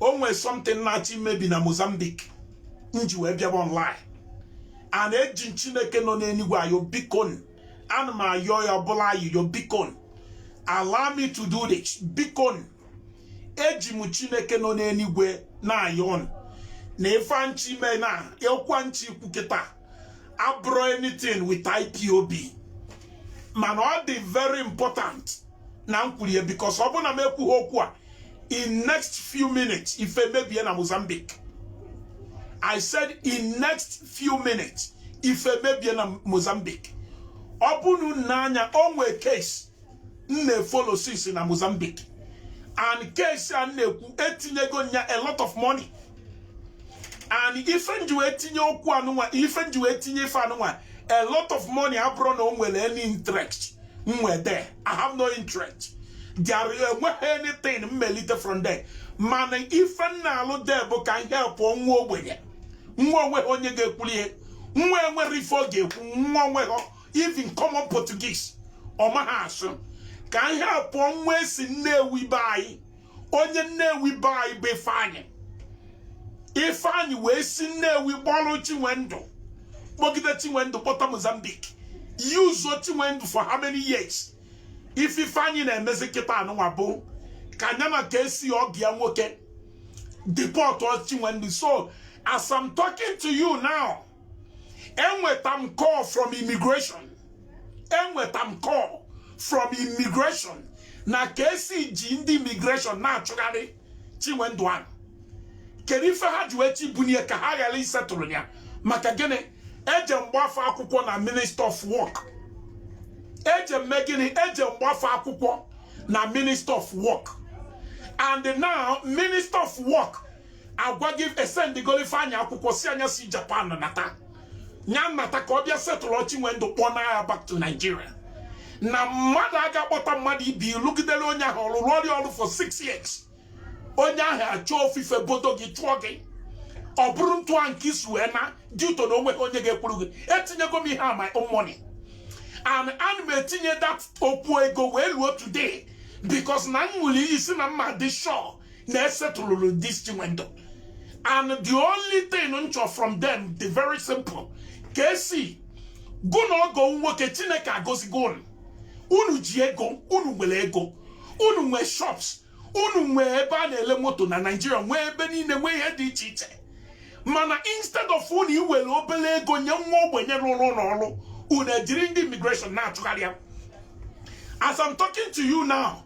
o nwere something na-achọ imebi na Mozambique m ji wee bịaba online and eji Chineke nọ n'eluigwe ayọ bikon ana m ayọ ya ọbụla ayịyọ bikon allow me to do this bikon eji m Chineke nọ n'eluigwe na-ayọ na ife m chọ ime na ekwa m chọ ikwu kịta abụrọ anything with IPOB mana ọ dị very important na m kwuru ya because ọ bụrụ na m ekwughị okwu a in next few minutes ife mebie na Mozambique I said in next few minutes ife mebie na Mozambique ọ bụrụ na anya o nwe case m na-efollow since na Mozambique and case a m na-ekwu etinyego nya a lot of money and ife m ji wee tinye okwu anụnwa ife m ji wee tinye ife anụnwa a lot of money abụrọ na o nwere any interest m nwe there I have no interest there enweghị anything m ma-elite from there mana ife m na-alụ there bụ ka m help nwa ogbenye nwa onweghị onye ga-ekwuli ya nwa enwerọ ife ọ ga-ekwu nwa onweghị even common Portuguese ọ maghị asụ ka m help nwa si Nnewi be anyị onye nnewi be anyị bụ ifeanyị ifeanyị wee si nnewi kpọrọ chinwendụ kpọgide chinwendụ kpọta mozambique use chinwendụ for how many years ife ifeanyị na-emezi kịta anụnwa bụ ka nya na KC ọgọ ya nwoke deport chinwendụ so as I'm talking to you now enweta m call from immigration enweta m call from immigration na KC ji ndị immigration na-achụgharị Chinwendu ahụ kedu ife ha ji wee chọ ibunye ka ha ghara isetụrụ ya maka gịnị eje m gbaa fa akwụkwọ na minister of work eje m mee gịnị eje m gbaa fa akwụkwọ na minister of work and now minister of work agwa gị esendịgoro Ifeanyị akwụkwọ sị nya si Japan nata ya nata ka ọ bịa setụlụ Chinwendu kpọna ya back to Nigeria na mmadụ aga-akpọta mmadụ ị bịa lụgidere onye ahụ ọrụ rụọrọ ya ọrụ for six years onye ahụ achọọ ofu ife bodo gị chụọ gị ọ bụrụ ntụa nke i si wee naa due to na onweghị onye ga-ekwuru gị etinyego m ihe a my own money and ana m etinye that okwu ego wee luo today because na m ṅụrụ iyi sị na m ma-adị sure na esetụlụrụ this chinwendụ and the only thing m chọ from them dị very simple KC gị na ọgọ nwoke chineke agọzigo unu unu ji ego unu nwere ego unu nwee shops unu nwee ebe a na-ele moto na naijiria nwee ebe niile nwee ihe dị iche iche mana instead of unu iwere obere ego nye nwa ogbenye rụrụ unu ọrụ unu ejiri ndị immigration na-achụgharị ya as I'm talking to you now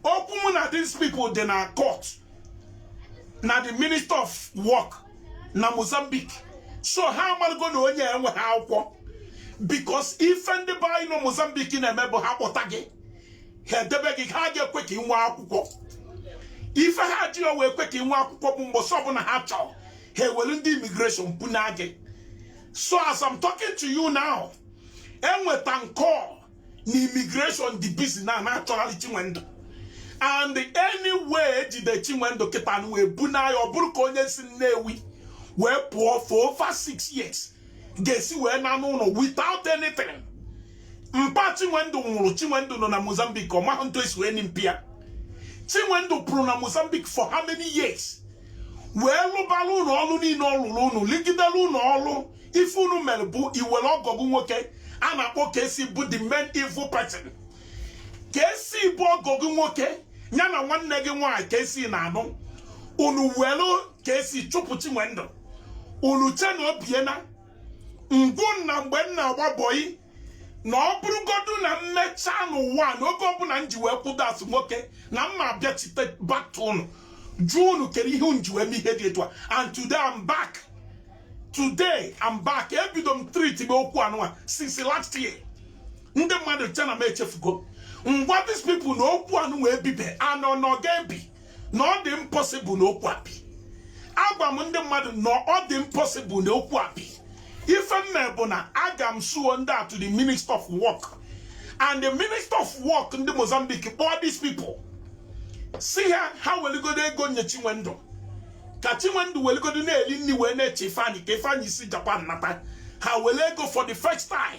okwu mụ na these people dị na court na the minister of work na Mozambique so ha amalụgo na onye enwehọ akwụkwọ because ife ndị be anyị nọ Mozambique na-eme bụ ha kpọta gị ha edebe gị ha ga-ekwe ka ị nwee akwụkwọ ife ha jirọ wee kwe ka ị nwee akwụkwọ bụ mbọsị ọbụna ha chọrọ ha ewelu ndị immigration bunaa gị so as I'm talking to you now enweta m call na immigration dị busy na na-achọhalị Chinwendu and anyway ejide Chinwendu kịta nụ wee bunaa ya ọ bụrụ ka onye si Nnewi wee pụọ for over six years ga-esi wee naa n'ụnọ without anything mpa Chinwendu nwụrụ Chinwendu nọ na Mozambique ọ mahụ ntụ esi wee nie mpa ya Chinwendu pụrụ na Mozambique for how many years wee lụbalụ unu ọrụ niine ọ lụlụ unu lụgidelu unu ọlụ ife unu mere bụ iwere ọgọ gị nwoke a na-akpọ KC bụ the main evil person KC bụ ọgọ gị nwoke ya na nwanne gị nwaanyị KC na-anụ unu were KC chụpụ Chinwendu unu che na o biena m gwa unu na mgbe m na-agba bọyị na ọ bụrụgodu na m mechaa n'ụwa na oge ọbụna m ji wee kwụdo as nwoke na m ma-abịachite back to unu jụọ unu kere ihe unu ji wee mee ihe dị etu a and today I'm back today I'm back ebido m treatibe okwu anụwa since last year ndị mmadụ che na m echefugo m gwa these people na okwu anụwa ebibe and na ọ ga-ebi na ọ dị impossible na okwu a bi agwa m ndị mmadụ na ọ dị impossible na okwu a bi ife m mee bụ na aga m suo ndị a to the minister of work and the minister of work ndị Mozambique kpọọ these people sị ha ha weligodo ego nye Chinwendu ka Chinwendu weligodo na-eli nni wee na-eche Ifeanyi ka Ifeanyi si Japan nata ha welu ego for the first time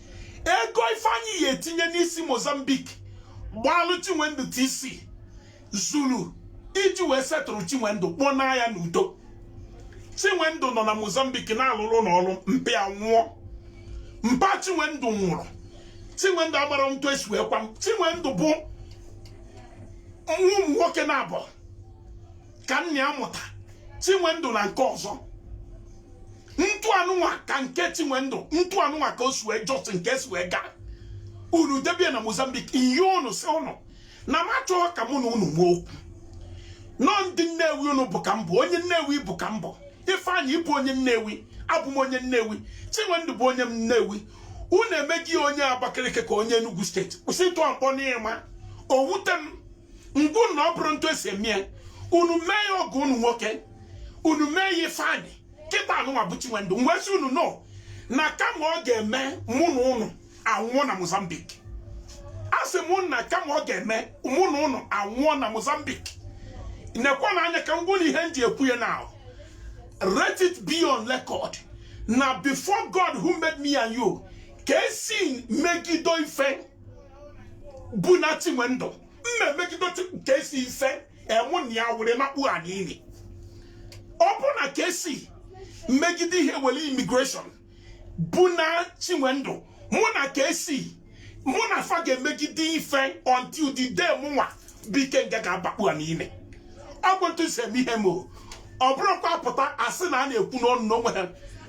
ego Ifeanyi ya-etinye n'isi Mozambique gbalụ Chinwendu TC zuru iji wee settle Chinwendu kpọnaa ya n'udo Chinwendu nọ na Mozambique na-alụrụ unu ọrụ mpa ya nwụọ mpa Chinwendu nwụrụ Chinwendu amarọ ntụ esi wee kwa Chinwendu bụ nwa ụmụ nwoke naabọ ka nna ya mụta chinwendụ na nke ọzọ ntụ anụnwa ka nke chinwendụ ntụ anụnwa ka o si wee just nke si wee gaa unu debe ya na mozambique ihe unu si unu na m achọghọ ka mụ na unu nwee okwu na ọ ndị nnewi unu bụ ka m bụ onye nnewi ị bụ ka m bụ ifeanyị ị bụ onye nnewi abụ m onye nnewi chinwendụ bụ onye nnewi unu emeghị onye abakaliki ka onye enugwu steeti kwụsị ịtụ akpọ n'ịma owute m m gwa unu na ọ bụrụ n'etu esi eme ya unu mee ya ọgụ unu nwoke unu mee ya ifeanyị kịta anụnwa bụ chinwendu m wee sị unu no na kama ọ ga-eme mụ na unu anwụọ na Mozambique a sị m na kama ọ ga-eme mụ na unu anwụọ na Mozambique nekwa na anya ka m gwa unu ihe m ji ekwu ya now let it be on record na before God who made me and you ka esi megido ife buna chinwendụ nna emegide ka esi ife enwụ na ya were nakpua n'ili ọ bụ na ka esi megide ihe were immigration buna chinwendụ mụ na ka esi mụ na fa ga-emegide ife until the day mụnwa bụ ikenga ga-abakpu n'ili ọ bụ etu m si eme ihe m o ọ bụrụkwa pụta asị na a na-ekwu n'ọnụ n'onwe ha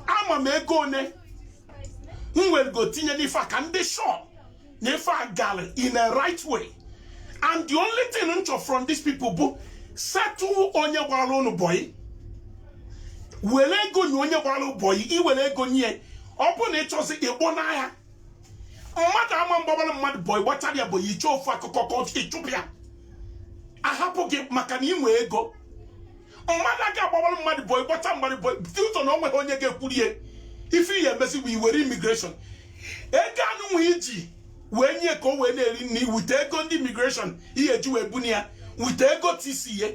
ama m ego one m werego tinye n'ife a ka m dị sure na ife a gara in a right way and the only thing m chọ from these people bụ settle onye gbara ụnụ boy were ego nye onye gbara boy i were ego nye ọ bụ na ị chọzi ịkpọna ya mmadụ ama agbabara mmadụ boy gbachara ya boy i chee ofu akụkọ ka ị chụpụ ya ahapụ gị maka na ị nwee ego mmadụ aka agbawara mmadụ boy gbachara mmadụ boy ị fụta na o nweghị onye ga-ekwuru ya ife ihe i mezi bụ i were immigration ego anụnwa i ji wee nye ka o wee na-eri nri with ego ndị immigration ihe eji wee buna ya with ego TC ya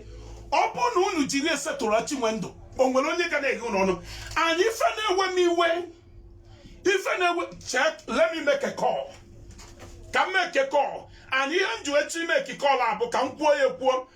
ọ bụrụ na unu jiri ya settle chinwendụ o nwere onye ga na-eghe unu ọnụ and ife na-ewe m iwe ife na-ewe chere let me make a call ka m make a call and ihe m ji wee chọ ị make call a bụ ka m kwuo ya ekwuo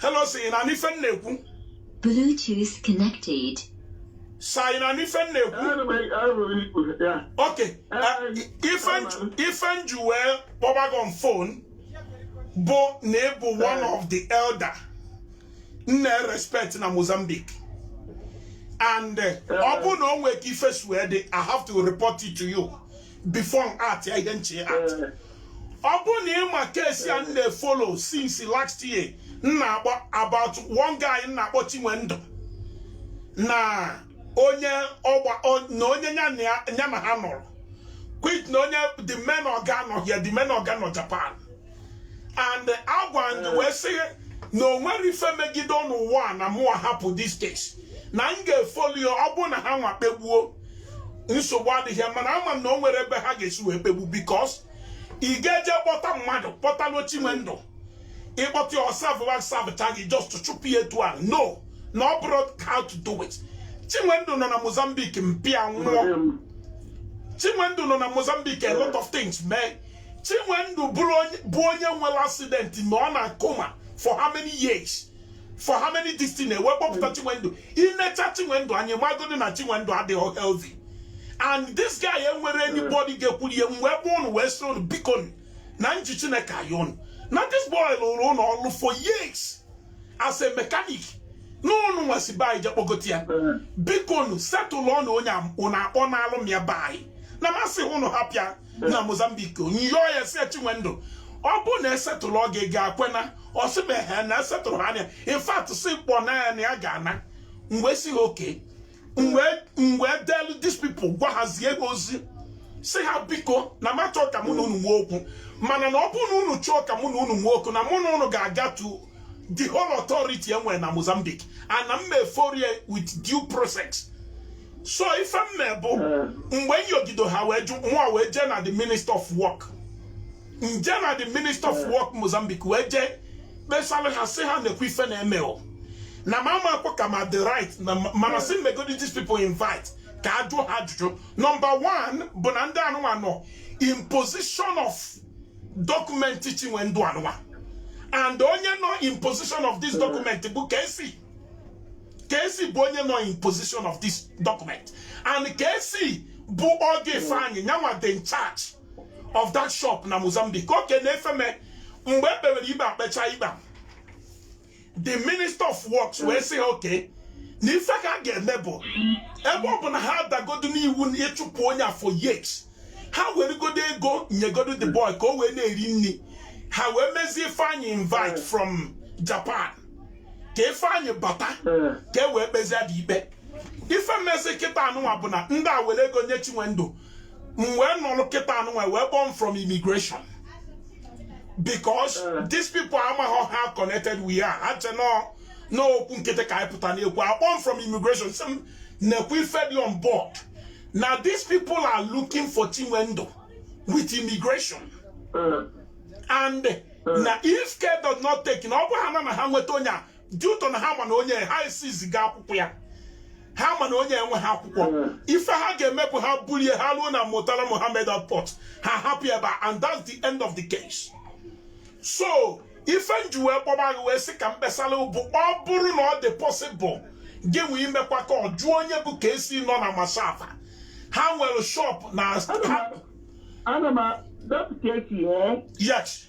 hello sir ị na-anụ ife m na-ekwu Bluetooth connected. sir ị na-anụ ife m na-ekwu Ana m anụ ikwu ya. ok Eh, ife m ji- ife m ji wee kpọba gị on phone bụ na ị bụ one of the elder m na-erespect na mozambique and eh, ọ bụ na o nwee ka ife si wee dị i have to report it to you before m act ya ihe m che ịact Eh, ọ bụ na ị ma case a m na-efollow since last year m na-agba about one guy m na-akpọ Chinwendu na onye ọgba o- na onye ya na ya- ya na ha nọrọ quit na onye the main ọga nọ here the main ọga nọ Japan and agwa m gị wee sị na o nwere ife megide n'ụwa a na mụ ahapụ this case na m ga-efollow ya ọ bụ na ha nwa kpegbuo nsogbu adịghị mana ama m na o nwere ebe ha ga-esi wee kpegbu because ị ga-eje kpọta mmadụ kpọtalụ chinwendụ ị kpọta ya ọ savụwa savụcha gị just chụpụ ya etu a no na ọ bụrọ how to do it chinwendụ nọ na mozambique mpa ya nwụọ chinwendụ nọ na mozambique a lot of things mee chinwendụ bụ onye nwere accident ma nọ na coma for how many years for how many this thing e wee kpọpụta hmm. chinwendu inecha chinwendu anyị magodi na chinwendu adịghị healthy and this guy enwere hmm. anybody ga-ekwuru ya m wee bee ụnụ wee sị ụnụ biko na nji chineke ayọ ụnụ na this boy lụrụ ụnụ ọrụ for years as a mechanic n'ụnụ wee si be anyị je kpọgote ya hmm. biko nụ setụlụọ nụ onye ụnụ akpọnalụ m ya be anyị na m asị ụnụ hapụ ya na mozambique m yọọ ya sị chinwendụ ọ bụ na e setụlụọ gị ga-ekwe ana ọ sị m ehee na e setụlụ ha ana in fact sị kpọna ya na ya ga-ana m wee sị ha okay m wee delu these people gwa ha zie ha ozi sị ha biko na m achọ ka mụ na unu nwee okwu mana na ọ bụrụ na unu chọọ ka mụ na unu nwee okwu na mụ na unu ga-aga to the whole authority enwere na Mozambique na m ma-efollow ya with due process so ife m me bụ mgbe m yọgido ha wee jụ mụwa wee jee na the minister of work m je na the minister of work Mozambique wee jee kpesara ha sị ha nekwa ife na-eme o na m amakwa ka ma the right na mana sị megodi these people invite ka a jụọ ha ajụjụ number one bụ na ndị anụwa nọ in position of document Chinwendu anụwa and onye nọ in position of this document bụ KC KC bụ onye nọ in position of this document and KC bụ ọgọ Ifeanyi nyanwa dị in charge of that shop na Mozambique okay na ife mee mgbe e kpewere ikpe e kpecha ikpe the minister of works wee sị ha okay na ife ka a ga-eme bụ ebe ọ bụ na ha adagodo n'iwu na ịchụpụ onye a for years ha weregodo ego nyegodo the boy ka o wee na-eri nri ha wee mezie ifeanyị invite from japan ka ifeanyị bata ka e wee kpezie the ikpe ife mezi kịta anụnwa bụ na ndị a were ego nye chinwendu m wee nọrọ kịta anụnwa e wee kpọọ m from immigration because eh. these people amaghị how connected we are ha che na okwu nkịtị ka anyị pụta na-ekwu a kpọọ m from immigration sị m nekwa ife dị on board na these people are looking for Chinwendu with immigration eh. and eh. na if care does not take na ọ bụ ha na ha nweta onye a due to na ha ma na onye ha esi ziga akwụkwọ ya ha ma na onye enwe ha akwụkwọ hmm. ife ha ga-eme bụ ha bulie ha ruo na Murtala Mohammed airport ha hapụ ebe a and that's the end of the case so ife nji wee kpọba gị wee sị ka mkpesara bụ ọ bụrụ na ọ dị possible gị wee imekwa ka ọ jụọ onye bụ KC nọ na Machava ha nwere shop na ana m depụta echi eh? yes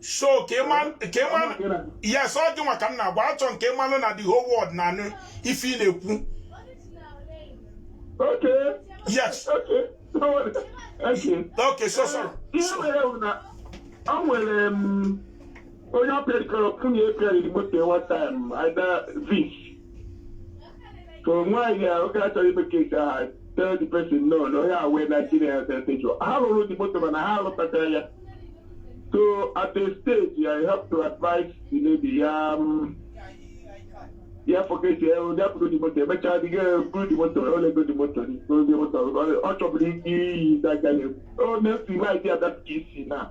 so ka ịma yes ọ dị nwa ka m na-agwa achọ m ka ịmalụ na the whole world na-anụ ife ị na-ekwu yes okay so sorry ọ nwere mm, onye ọ pịarịkọrọ nwunye pịarịrị moto one time ada vis ka nwaanyị ahụ ka achọghị ime case ahụ tell the person no na onye awee na chi na-ese ntejụ ha lụrụ the moto mana ha alụtachara ya so at a stage i have to advise the lady ya um, ya forget ya onye apụrụ the moto emechaa dị buru the moto o lego the moto n'ozi moto ọ chọburu iyi that guy na-ekwu ọ na-esi maịdị adapụta isi na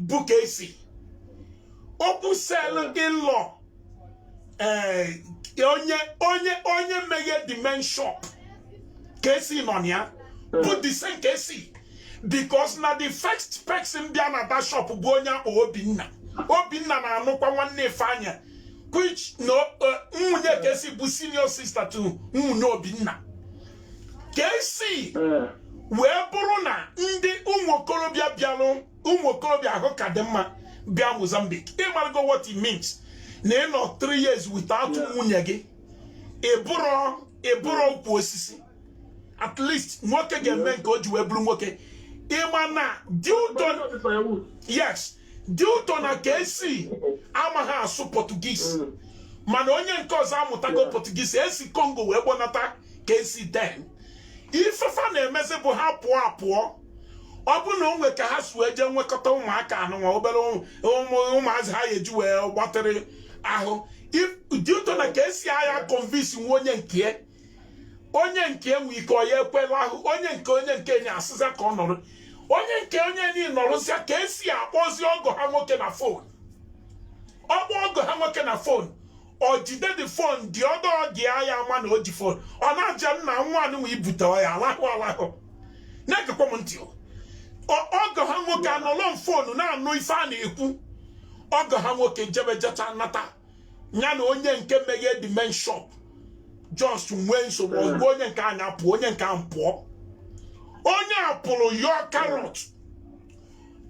bụ KC okwu sel in-law eh, onye onye onye meghe the main shop KC nọ na ya bụ the same KC because na the first person bịa na that shop bụ onye a kpọ Obinna Obinna na-anụkwa nwanne Ifeanyị which na eh, nwunye KC bụ senior sister to nwunye Obinna KC wee bụrụ na ndị ụmụ okorobịa bịalụ ụmụ okorobịa ahụ ka dị mma bịa Mozambique ịmarago what it means na ịnọ 3 years without nwunye gị ịbụrọ ịbụrọ ukwu osisi at least nwoke ga-eme nke o ji wee bụrụ nwoke ịma na due to yes due to na KC amaghị asụ Portuguese mm. mana onye nke ọzọ amụtago Portuguese esi Congo wee gbọnata KC then ifefa na-emezi bụ ha pụọ apụọ ọ bụ na onwe ka ha si wee jee nwekọta ụmụaka anụnwa obere ụmụazị ha ga-eji wee gbatịrị ahụ due to na KC agha convince nwa onye nke onye nke nwe ike ọ ya ekwe lahụ onye nke onye nke nye asịza ka ọ nọrọ onye nke onye niile nọrọzia KC akpọzi ọgọ ha nwoke na phone ọ kpọ ọgọ ha nwoke na phone o jide the phone the other guy ama na o ji phone ọ na-aja nna nwa anụnwa ibute ya alahụ alahụ na-egekwa m ntị ọgọ ha nwoke anọlọ na phone na-anụ ife a na-ekwu ọgọ ha nwoke jebe jeta nata ya na onye nke meghe the main shop just nwee nsogbu hmm. ozugbo onye nke anya pụọ onye nke a pụọ onye a pụrụ yọọ karọt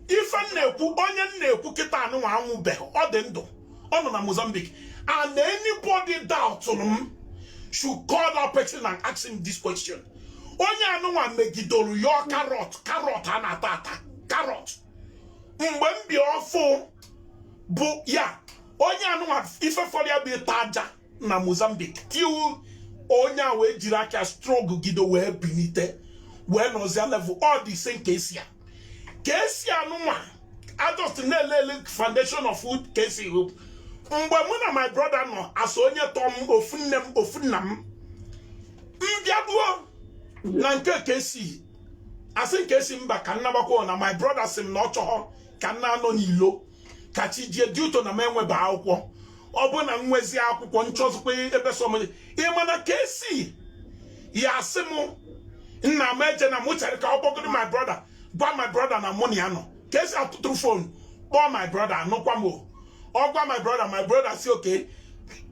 ife m na-ekwu onye m na-ekwu kịta anụnwa anwụbeghị ọ dị ndụ ọ nọ na Mozambique and anybody doubtụrụ m should call that person and ask him this question onye anụnwa megidoro yọọ carrot carrot a na-ata ata carrot mgbe m bi ọfụ bụ ya onye anụnwa ife fọrọ ya bụ ịta aja na Mozambique till onye a wee jiri aka struggle gide wee binite wee nọzie level all the same KC a KC anụnwa a just na-elele foundation of food KC hope mgbe mụ na my brother nọ South onye tọọ m ofu nne m ofu nna m m bịaduo na nke KC asị m KC mba ka m nabakwa na my brother sị m na ọ chọghọ ka m na-anọ n'ilo ka chi jie due to na m enweba akwụkwọ ọ bụ na m nwezi akwụkwọ m chọzikwa ebe sọ m je ịma na KC ya asị m nna m ejena mụ chere ka ọ kpọgodo my brother gwa my brother na mụ na ya nọ KC atụtụrụ phone kpọọ my brother anụkwa m ọ gwa my brother my brother sị okay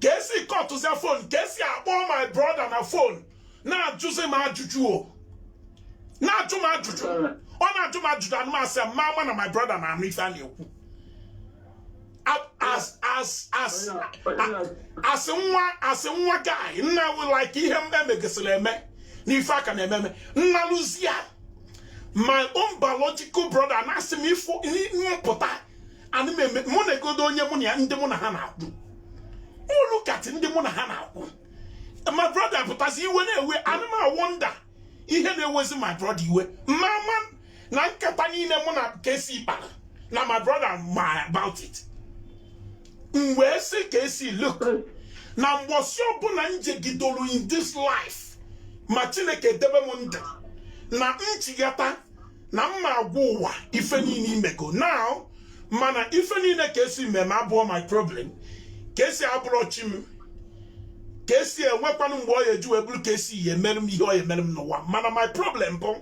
KC cutụzia phone KC akpọ my brother na phone na-ajụzi m ajụjụ ọ na-ajụ m ajụjụ ọ na-ajụ m ajụjụ ana m asa mụ ama na my brother na-anụ ife a na-ekwu asị nwa asị nwa guy nna like ihe m emegasịrị eme n'ife a ka na-eme eme nna luzia my own biological brother na-asị m if m pụta ana m eme mụ negodo onye mụ na ya ndị mụ na ha na-akwụ mụ look at ndị mụ na ha na-akwụ my brother pụtazi iwe na-ewe ana m awonder ihe na-ewezi my brother iwe mụ ama na nkata niile mụ na KC kpara na my brother ma about it m wee sị KC look na mgbọsị ọbụla m jegidoro in this life ma chineke debe m ndụ na m chigata na m ma-agwa ụwa ife niile i mego now mana ife niile KC me m eme abụọ my problem KC abụrọ chi m KC enwekwanụ mgbe ọ ya eji wee bụrụ KC ya emere m ihe ọ ya emere m n'ụwa mana my problem bụ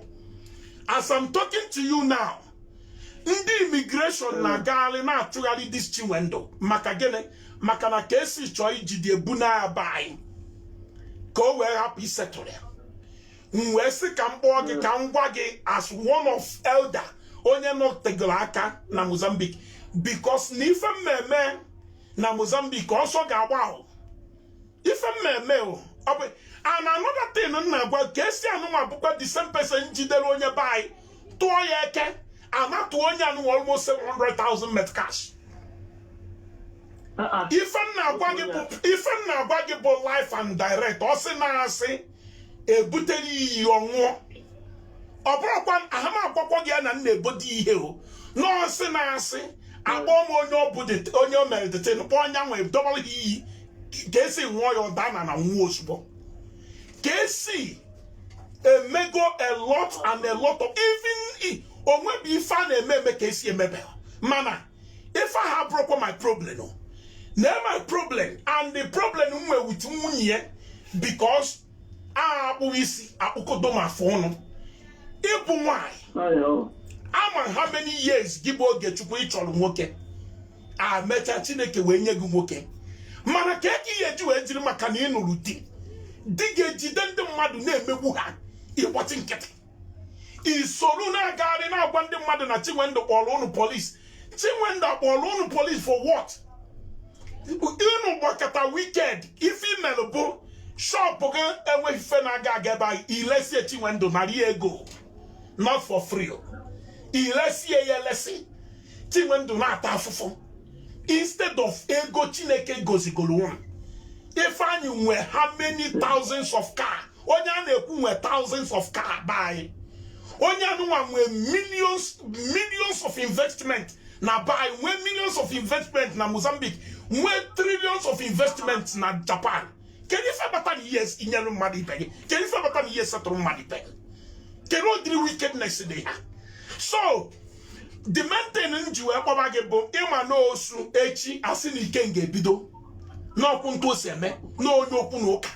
as I'm talking to you now ndị immigration hmm. na-agagharị na-achụgharị this Chinwendu maka gịnị maka na KC chọọ ijide ebu na-aba anyị ka o wee hapụ isettle ya m wee sị ka m kpọọ gị ka m gwa gị as one of elder onye nọtegoro aka na Mozambique because na ife m ma-eme na Mozambique ọsọ ga-agba ahụ ife m ma-eme o ọ bụ and another thing m na-agwa KC anụnwa bụkwa the same person jidere onye be anyị tụọ ya AK anatụ onye anụnwa almost 700,000 met cash ife m na-agwa gị bụ life and direct ọ sị na asị ebutere iyi ọ ṅụọ ọ bụrụkwa ahama agwakwa gị ya na nna ebodi ihe o nọọsị na-asị akpọ m onye ọ bụ onye o mere the thing kpọọ onye nwe dọbara gị iyi KC ṅụọ ya ọ daa n'ana nwụọ ozugbo KC emego a lot and a lot of evil o nwebe ife a na-eme eme KC emebe mana ife ahụ abụrọkwa my problem o now my problem and the problem m nwere with nwunye ya because a akpụghị isi akpụkọdo ma afọ ọnụ ị bụ nwanyị ama how many years gị bụ ogechukwu ị chọrọ nwoke a mecha chineke wee nye gị nwoke mana ka eke ihe eji wee jiri maka na ị nụrụ di di ga-ejide ndị mmadụ na-emegbu ha ị gbachi nkịtị i soro na-agagharị na-agwa ndị mmadụ na chinwendụ kpọrọ ụnụ polisi chinwendụ akpọrọ ụnụ polisi for what ụnụ gbakọta wicked ife i melụ bụ shọpụ gị enweghị ife na-aga aga ebe anyị i lesie chinwendụ nara ya ego not for free i lesie ya elesi chinwendụ na-ata afụfụ instead of ego chineke gozigoro ụnụ ifeanyị nwe how many thousands of car onye a na-ekwu nwe thousands of car be anyị onye anụnwa nwe millions millions of investment na be anyị nwee millions of investment na Mozambique nwee trillions of investment na Japan kedu ife bata na ihe i nyere mmadụ ibe gị kedu ife bata na ihe setụrụ mmadụ ibe gị kedu ụdịrị wickedness dị ha so the main thing m ji wee kpọba gị bụ ị ma na osu echi a sị na Ikenga ebido n'okwu ntụ o si eme n'onye okwu na ụka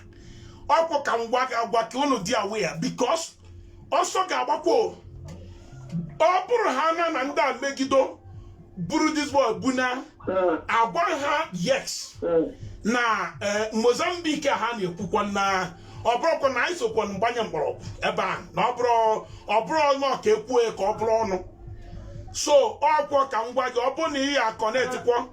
ọkwọ ka m gwa gị agwa ka unu dị aware because ọsọ ga-agbakwa o. ọ bụrụ ha na na ndị a megido buru this boy bu na agwa ha yes na eh, mozambique ha na-ekwukwa na ọ bụrụkwa na i sokwa m gbanye mgbọrọgwụ ebe a na ọ bụrụ ọ bụrụ ọnụ ka ekwue ka ọ bụrụ ọnụ so ọkwọ ka m gwa gị ọ bụrụ na ị ya aconnectikwa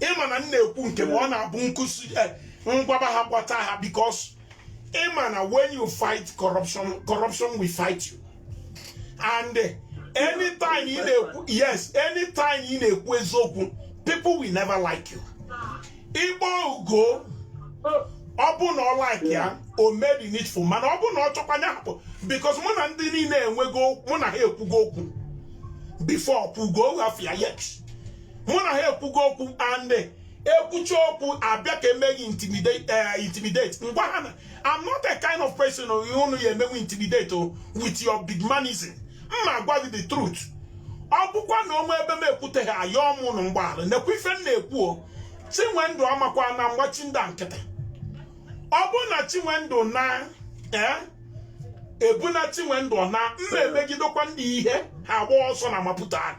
ị ma na m na-ekwu nke m ọ na-abụ nkuzi eh, m gwaba ha gbata ha because ị ma na when you fight corruption corruption will fight you and eh, anytime ị na-ekwu yes anytime ị na-ekwu eziokwu people will never like you ị kpọọ ugo ọ bụ na ọ like ya o mee the needful mana ọ bụ na ọ chọkwa ya hapụ because mụ na ndị niile enwego mụ na ha ekwugo okwu before kwuo ugo afa yes mụ na ha ekwugo okwu and e kwucha okwu a bịa ka e mee m intimidate eh, m gwa ha na I'm not a kind of person unu ya-emenwu intimidate oh, with your big manism m ma-agwa gị the truth ọ bụkwa na o nwe ebe m ekwuteghị ayọ m unu mgbaghara nekwa ife m na-ekwu oh, Chinwendu amakwa na m gbachi ndị a nkịtị ọ bụrụ na Chinwendu na eh, ebuna Chinwendu na m ma emegidekwa ndị ihe ha gba ọsọ na maputa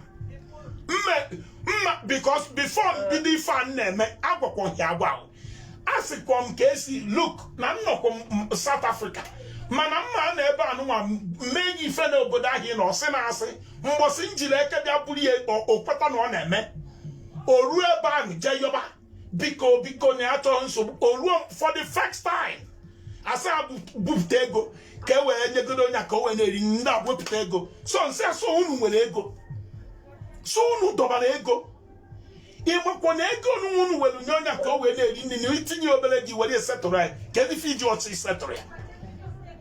mme mma because before m bido ife a m na-eme agwakwaghị agwa ahụ asịkwa m ka esi look na nnọkọ South Africa mana m ma na ebe anụnwa m mee gị ife n'obodo ahụ ị na ọsị na asị mbọsị m jiri eke bịa buru ya o kweta na ọ na-eme o ruo ebe ahụ jee yọba biko biko na achọghị nsogbu o ruo for the first time a sị ha bupụta ego ka e wee nyegodo Onyeka o wee na-eri nri a wepụta ego so m sị ah so unu nwere ego so unu dọbara ego ị makwa na ego unu unu were nye Onyeka o wee na-eri nri na itinye obere gị were settle ya kedu ife i jirọzi settle ya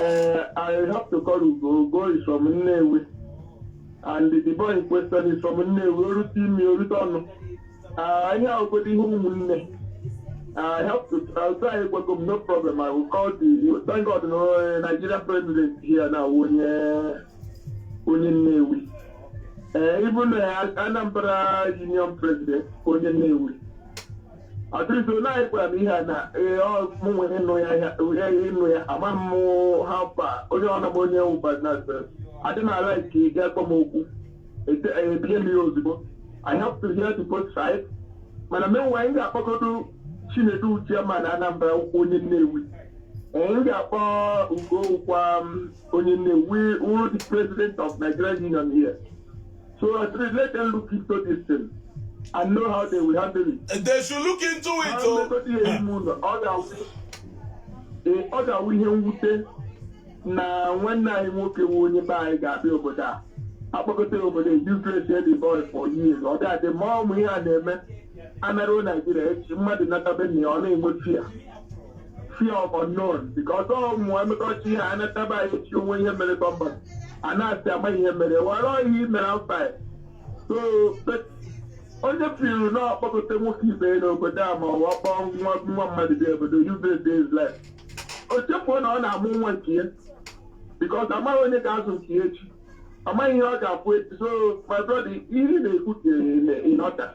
Uh, I have to call Ugo. Ugo is from Nnewi. And the boy in question is from Nnewi. O rute imi, o rute ọnụ. Uh, anyị ahụgodo ihe ụmụnne. I have to I'll try Ekweko, no problem. I will call the thank God no uh, Nigerian president here now onye onye Nnewi. Uh, even uh, Anambra Union president onye Nnewi. At least na ị gwara m ihe a na ee, ọ mụ nwere ịnụ ya ya- ihe ịnụ ya ama m how far onye ọ nọbụ onye wụ but naturally adịghị m a-like ị gwa m okwu Ete- eh, e believe m ya ozugbo I have to hear the both sides mana meanwhile anyị ga-akpọgodo Chinedu chairman Anambra onye Nnewi Eh, m ga-akpọ Ugo wụkwa onye Nnewi wụrụ the president of Nigerian Union here So at least let them look into this thing and know how they will handle it. They should look into it. Ha Oh. nlekọta ihe ime ụlọ, ọ ga-awụ- ee, ọ ga-awụ ihe mwute na nwanne anyị nwoke wụ onye be anyị ga-abịa obodo a a kpọkọta ya obodo useless the boy for years ọ ga-adị ma ọ wụ ihe a na-eme a naruo Nigeria echi mmadụ natabe na ya ọ na-enwe fear fear of unknown because ọ mụ emekọta ihe a nataba anyị echi o nwe ihe mere bọmba a na-asị ama ihe mere were ọhịa imere mba so but onye feel na ọ kpọkọta nwoke ibe ya n'obodo a ma ọ wụ kpọ nwa nwa mmadụ bịa obodo useless his life o chefuo na ọ na-amụ nwa nke ya because amaghị onye ga-azụ nke ya echi amaghị ihe ọ ga-abụ echi so my brother ihe ị na-ekwu ka ị na- ị nọta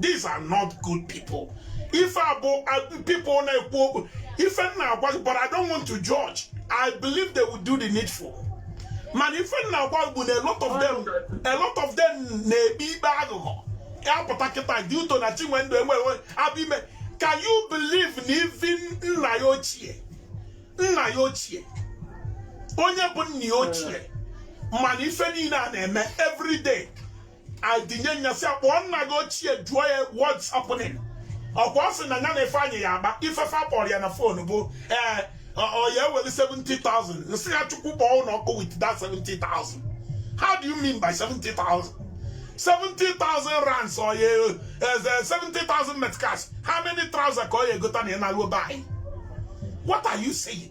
these are not good people ife a bụ uh, people na-ekwu okwu ife m na-agwa gị but I don't want to judge I believe they will do the needful mana ife m na-agwa gị bụ na a lot of them a lot of them na-ekpe ikpe aghụghọ apụta kịta due to na Chinwendu enweghị abụ ime can you believe na even nna ya ochie nna ya ochie onye bụ nna ya ochie mana ife niile a na-eme every day ọ dị n'enyasị akpọọ nna gị ochie jụọ ya what's happening ọkwa ọ sị na ya na Ifeanyị ya agba ife fa kpọrọ ya na fon bụ ee ọ ya ewere 70,000 m sị ya chukwu kpọọ unu ọkụ with that 70,000 how do you mean by 70,000 70,000 rands or you, uh, 70,000 meticals. How many trousers ka ọ ya egote na Alubay? What are you saying?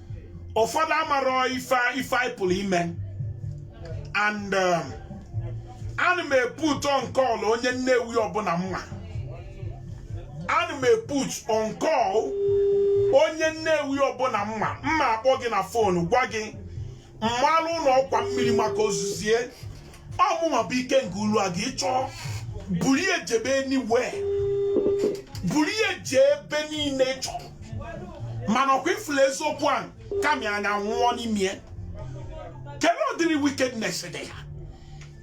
ụfọdụ amarọ ife ife anyị pụrụ ime and um, ana m e-put on call onye nnewi ọbụla m ma ana m e-put on call onye nnewi ọbụla m ma m ma akpọ gị na fon gwa gị malụ ụlọ ọkwa mmiri maka ozuzie ọ mụnwa bụ Ikenga Uruagu ị chọọ buru ya jebe anywhere buru ya jee ebe niile ị chọrọ mana ọkwa ị fụla eziokwu ahụ kama anyị anwụọ n'ime ya kedu ụdịrị wickedness dị ihe a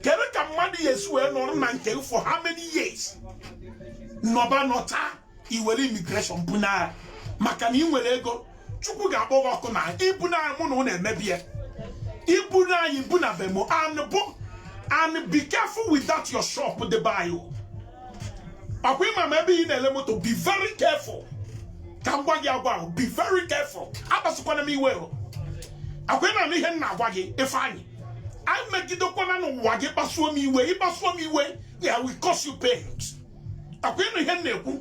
kedu ka mmadụ ya esi wee nọrọ na nke for how many years nọba nọta i were immigration bunaa ya maka na ị nwere ego chukwu ga-akpọ gị ọkụ na i bunaa mụ na ụnụ emebi ya i bunaa anyị bunaa be m o anụ bụ anụ be careful with that your shop dị be anyị ọkwa ị ma m ma ebe ị na-ele moto be very careful ka m gwa gị agwa ahụ be very careful akpasukwana m iwe o ọkwa ị na-anụ ihe m na-agwa gị Ifeanyị emegidekwana onwe gị ị kpasuo m iwe ị kpasuo m iwe I will cause you pains ọkwa ị nụ ihe m na-ekwu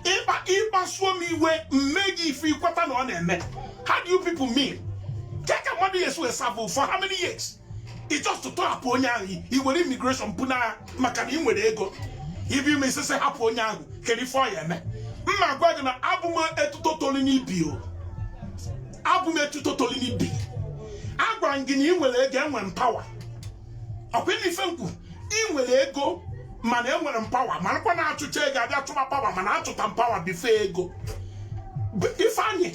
ị kpa ị kpasuo m iwe m mee gị ife i kweta na ọ na-eme how do you people mean ke ka mmadụ ya esi wee savụ for how many years ị just tọhapụ onye ahụ i were immigration bunaa ya maka na ị nwere ego ibi ime isese hapụ onye ahụ kedu ife ọ ya eme m na-agwa gị na abụ m etuto toli n'ibi o abụ m etuto toli n'ibi agwara m gị na ị nwere ego enwere m pawa ọkwa ị nụ ife m kwu ị nwere ego mana enwere m pawa marakwa na a chụcha ego a bịa chụba pawa mana achụta m pawa before ego ifeanyị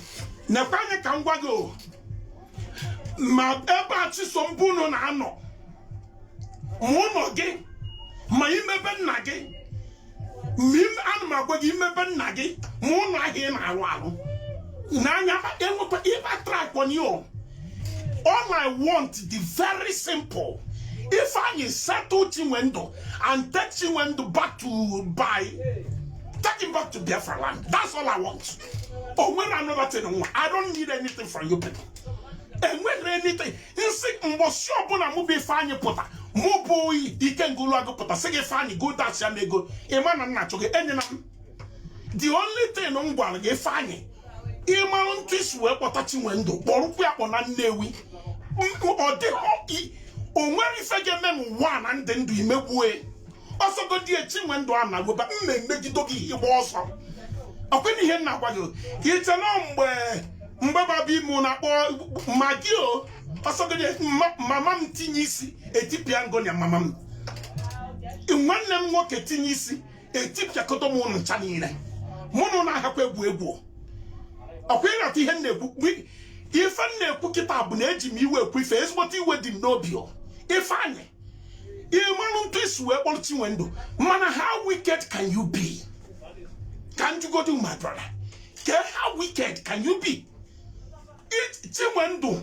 nekwa anya ka m gwa gị o ma ebe a chisom bụ unu na-anọ ma ụlọ gị ma ime be nna gị ana m agwa gị imebe nna gị ma ụlọ ahịa ị na-arụ arụ n'anya enwekwa ịba track on you all I want the very simple if I settle Chinwendu and take Chinwendu back to Bia take him back to Biafra land that's all I want o nwerọ another thing I don't need anything from you people and when anything m sị mbọsị ọbụla mụ bụ ifeanyị pụta mụ bụ Ikenga Uruagu pụta sị gị ifeanyị go dashịa m ego ịma na nna chụ gị enyela m the only thing m gwara gị ifeanyị ịmarụ ntụ isi wee kpọta Chinwendu kpọrụkwu ya kpọna Nnewi ọ dịghị o nwere ife ga-eme n'ụwa na ndị ndụ imegbue ọsọgodi Chinwendu a na-agụba m na-emegido gị igba ọsọ ọkwena ihe m na-agwa gị iche na mgbe mgbe baba ime na-akpọ magi o ọsọgodi mama m tinye isi etipịa m gị na ya mama m nwanne m nwoke tinye isi etipịakọta m ụnụ ncha niile mụ na ụnụ ahakwa egwu egwu ọkwa ịnata ihe m na-ekwu ife m na-ekwu kịta bụ na eji m iwe ekwu ife ezigbote iwe dị m n'obi o ifeanyị ịmanụ ntụ isi wee kpọrọ chinwendu mana how wicked can you be ka m jụgodi my brother ke how wicked can you be chinwendu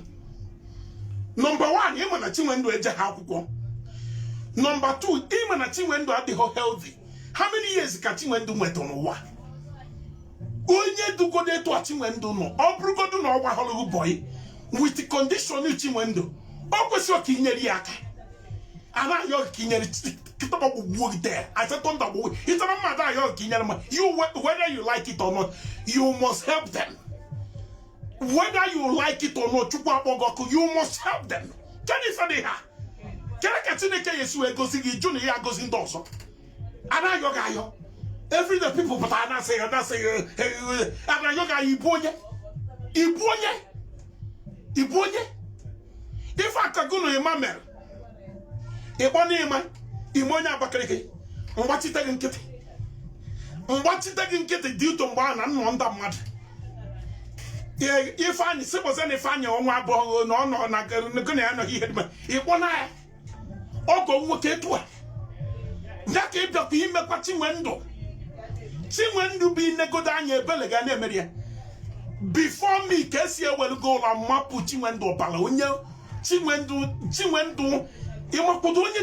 number one ịma na chinwendu ejehọ akwụkwọ number two ịma na chinwendu adịghị healthy how many years ka chinwendu nwetụ n'ụwa onye dịgodo etu a chinwendu nọ ọ bụrụgodu na ọ gbahọrọ gị bọyị with condition Chinwendu o kwesịrị ka inyere ya aka a na-ayọ gị ka inyere kịtịkpa gbagbuo gị there I said thunder gbagbuo gị there mmadụ ayọ gị ka inyere ma you whether you like it or not you must help them whether you like it or not chukwu akpọ gị ọkụ you must help them kedu ife dị ha kere ka Chineke ya esi wee gozi gị jụ na ya agozi ndị ọzọ a na-ayọ gị ayọ every day people pụta a na-asị ya a na-asị ya a na-ayọ gị ayọ ị bụ onye ị bụ onye ị bụ onye ife akago na ịma mere ịkpọ na ịma ime onye Abakaliki m gbachite gị nkịtị m gbachite gị nkịtị dị ụtọ mgbe a na nnọ ndị mmadụ ifeanyị sịbụzi na ifeanyị ọnwa abụọ na ọ nọ na gị na ya nọghị ihe dị mma ịkpọ na ya ọgọ nwoke etu a ya ka ịbịakwa imekwa Chinwendu Chinwendu bụ inegodo anya ebele gị na-emeri ya before mi ka esi ewelugo ụlọ mmapụ Chinwendu ọbara onye Chinwendu Chinwendu ịmakwado onye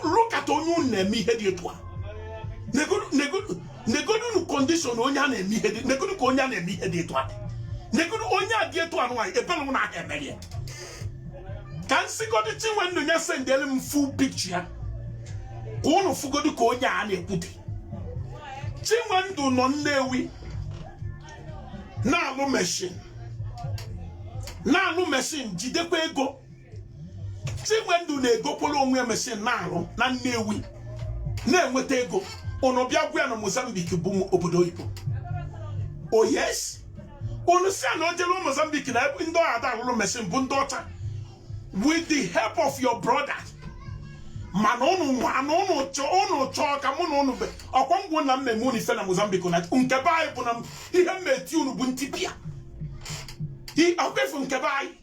look at onye unu na-eme ihe dị etu a negodunu condition onye a na-eme ihe dị negodu ka onye a na-eme ihe dị etu a negodu onye a dị etu a nwaanyị ebele unu aha emeri ya ka m sigodu chinwendu nye sendel m full picture ya ka unu fugodi ka onye a na-ekwu dị chinwendu nọ nnewi na-alụ machine na-alụ machine jidekwa ego chinwendu na-egokwala onwe ya machine na-alụ na nnewi na-enweta ego unu bịa gwa ya na mozambique bụ obodo oyibo oh yes unu sị na o jere Mozambique na ndị ọ ya-ada alụrụ machine bụ ndị ọcha with the help of your brother mana unu nwa na unu chọọ ka mụ na unu be ọkwa ngwụ na mmemme unu ife na Mozambique na nke be anyị bụ na ihe mmeti unu bụ ntipịa ọkwefu nke be anyị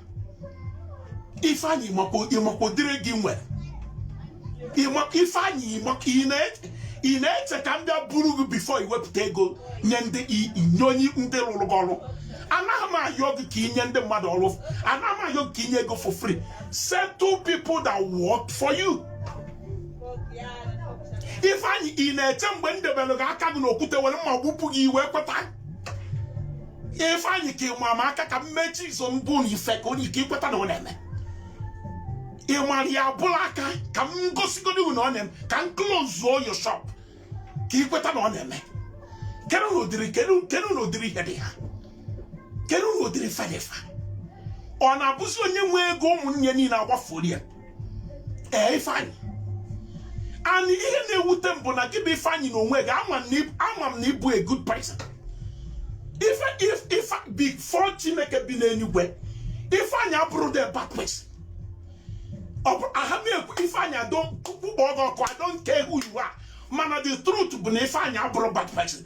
ifeanyị ịma ka ọ dịrị gị nwere ifeanyị ị na-eche ka m bịa buru gị before iwepụta ego nye ndị nye onye ndị rụrụ gị ọrụ anaghị m ayọ gị ka inye ndị mmadụ ọrụ anaghị m ayọ gị ka inye ego for free settle people that work for you ifeanyị ị na-eche mgbe m debere gị aka gị n'okwute were mma gbupụ gị i wee kweta ifeanyị ka ịma m aka ka m mechie izo mbụ na ife ka onye ike ikweta na ọ na-eme ịmara ya abụla aka ka m gosigodi na ọ na-eme ka m closuo your shop ka ikweta na ọ na-eme kedu na ụdịrị kedu na ụdịrị ihe dị iha kedu na ụdịrị ife dị ifa ọ na-abụzi onye nwee ego ụmụnne niile agbafuola ya ee ifeanyị and ihe na-ewute m bụ na gị bụ ifeanyị na onwe gị ama m na ịbụ a good person ife if ife before chineke bi n'eluigwe ifeanyị abụrọ the bad person a ha na-ekwu ifeanyị adọ kpụkpọ ọgọ ọkụ adọ nke ihu iwu a mana the truth bụ na ifeanyị abụrọ bad person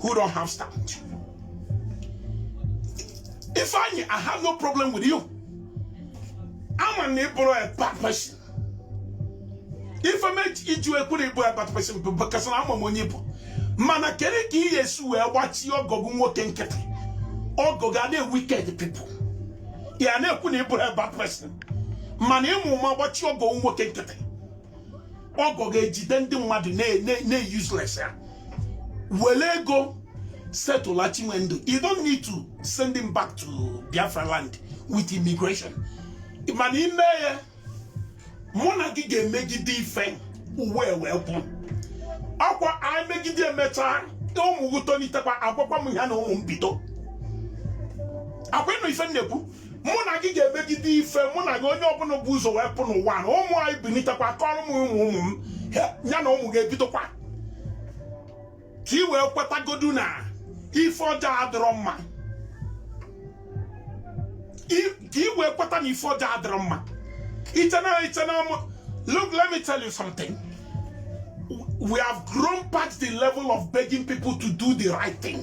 who don't have stand. If I, I have no problem with you. I'm an April a bad person. If I make it you a good April a bad person because I'm a monipo. Mana kere ki yesu we watch your gogun woken kete. Or go gade wicked people. Yeah, no good April a bad person. Mana emu ma watch your gogun woken kete. ọgọ ga-ejide ndị mmadụ na-useless ya were ego settle chinwendu you don't need to send him back to biafra land with immigration mana ime ya mụ na gị ga-emegide ife ụwa wee gwụ ọkwa anyị megide emechaa ụmụ gị tolitekwa agwakwa m ha na ụmụ m bido ọkwa ịnụ ife m na-ekwu mụ na gị ga-emegide ife mụ na gị onye ọbụla bu ụzọ wee pụọ n'ụwa na ụmụ anyị bilitekwa kọrọ m ụmụ ụmụ m ya na ụmụ gị ebidokwa ka ị wee kwetagodu na ife ọjọọ adịrọ mma ka ị wee kweta na ife ọjọọ adịrọ mma i che na i che na look let me tell you something we have grown past the level of begging people to do the right thing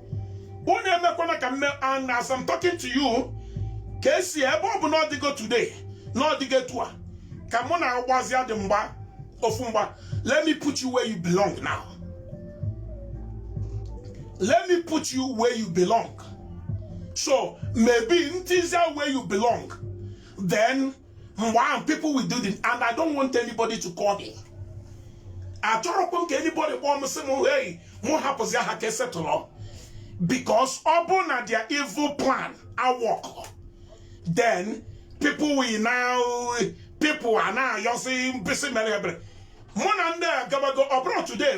unu emekwana ka m mee and as I'm talking to you Kcee ebe ọ bụ na ọdịgo today na ọdịgo etu a ka mụ na agbazi adị mgba ofu mgba let me put you where you belong now let me put you where you belong so maybe m tizia where you belong then mgbe ahụ people will do this and I don't want anybody to call me achọrọkwa m ka anybody kpọọ m sị m hey mụ hapụzia ha ka e settle because ọ bụ na their evil plan awork then people will now people ana-ayọsị m please mere ebere mụ na ndị a gabago ọ bụrọ today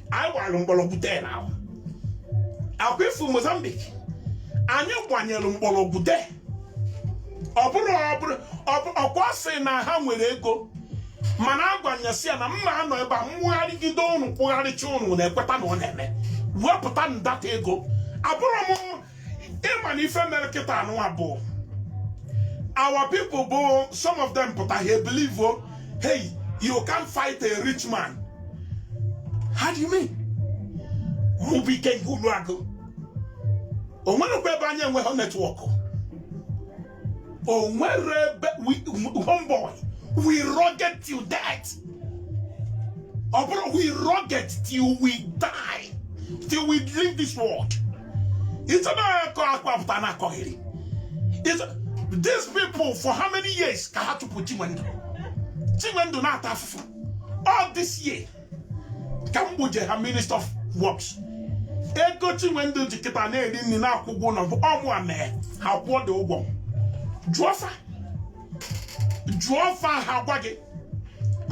anyị gbara mgbọrọgwụ then akwa ifu Mozambique anyị gbanyere mgbọrọgwụ de ọ bụrọ ọ bụrọ ọ bụrọkwa sị na ha nwere ego mana agwa m ya sị ya na m na-anọ ebe a mwụgharịgide ụnụ kwụgharịcha ụnụ na-ekweta na ọ na-eme wepụtanụ that ego abụrọ m ịma na ife mere kịta n'ụwa bụ our people bụ some of them pụta ha ebelieve o hey you can't fight a rich man how do you mean mụ bụ Ikenga Uruagu o nwerekwa ebe anyị enweghị network o nwere ebe homeboy we rugged till death ọ bụrụ we rugged till we die till we leave this world ịchọ na-akọ akwa pụta na-akọgheri these people for how many years ka ha chụpụ Chinwendu Chinwendu na-ata afụfụ all this year ka m gbuje ha minister of works ego Chinwendu ji kịta na-eri nri na-akwụ ụgwọ ụlọ bụ ọ mụwa mee ha kwụọ dị ụgwọ jụọ fa jụọ fa ha gwa gị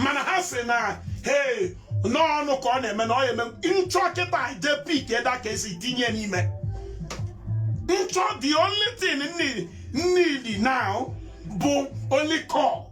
mana ha si na hee n'ọnụ ka ọ na-eme na ọ ya eme m chọọ kịta je pick that Kcee tinye n'ime in short the only thing m need now bụ only call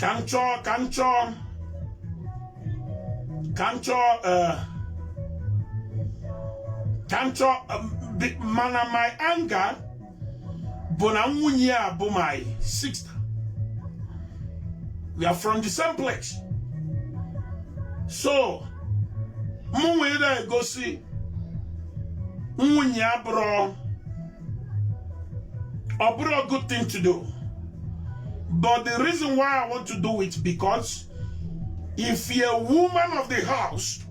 ka m chọọ ka m chọọ ka m chọọ eh, ka m chọọ eh, mana my anger bụ na nwunye ya bụ my sister we are from the same place so mụ were gosi nwunye ya bụrụ ọ bụrụ a good thing to do but the reason why I want to do it because if you're a woman of the house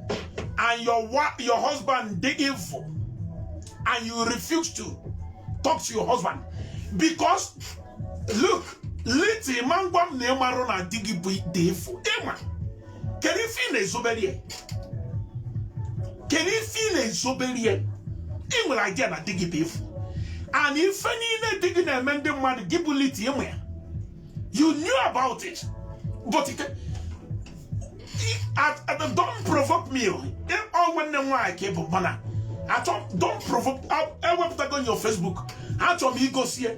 and your your husband dey evil and you refuse to talk to your husband because look leti ma ngwa m na ịmarụ na di gị bụ dị efu ịma kedu ife ị na-ezobere ya kedu ife ị na-ezobere ya ị nwere idea na di gị bụ efu and ife niile di gị na-eme ndị mmadụ gị bụ liti ịma ya you knew about it but it, at, at, don't provoke me ọ nwanne m nwaanyị ka ị bụ mana achọ don't provoke ewepụtago your Facebook achọrọ m igosie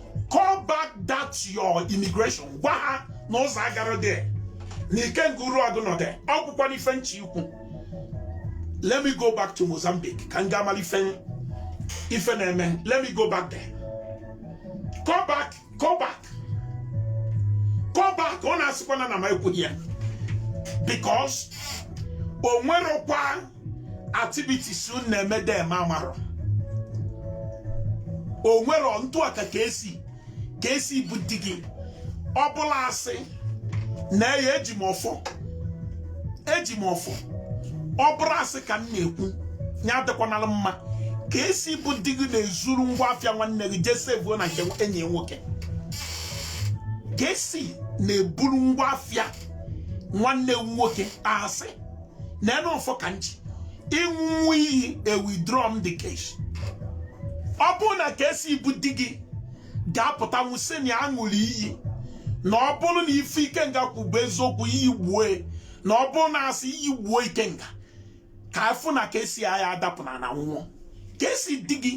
call back that your immigration gwa ha na ụzọ agarọ there na Ikenga Uruagu nọ there ọ bụkwa n'ife m chọ ikwu let me go back to Mozambique ka m gaa mara ife ife na-eme let me go back there call back call back call back unu asịkwana na m ekwughị ya because o nwerokwa activities unu na-eme there m amarọ o nwere ntụ aka KC KC bụ di gị ọ bụlụ asị na ya eji m ọfọ eji m ọfọ ọ bụrụ asị ka m na-ekwu ya adịkwanala m mma KC bụ di gị na-ezuru ngwa afịa nwanne gị jee sevuo na nke enyi nwoke KC na-eburu ngwa afịa nwanne gị nwoke asị na ene ọfọ ka m je ịṅụ iyi e withdraw m the case ọ bụrụ na KC bụ di gị ga-apụta nwụsị na ya ṅụrụ iyi na ọ bụrụ na ife ikenga kwu bụ eziokwu iyi gbuo e, na ọ bụrụ na asị iyi gbuo ikenga ka a fụ na KC aya adapụ n'ana nwụọ KC di gị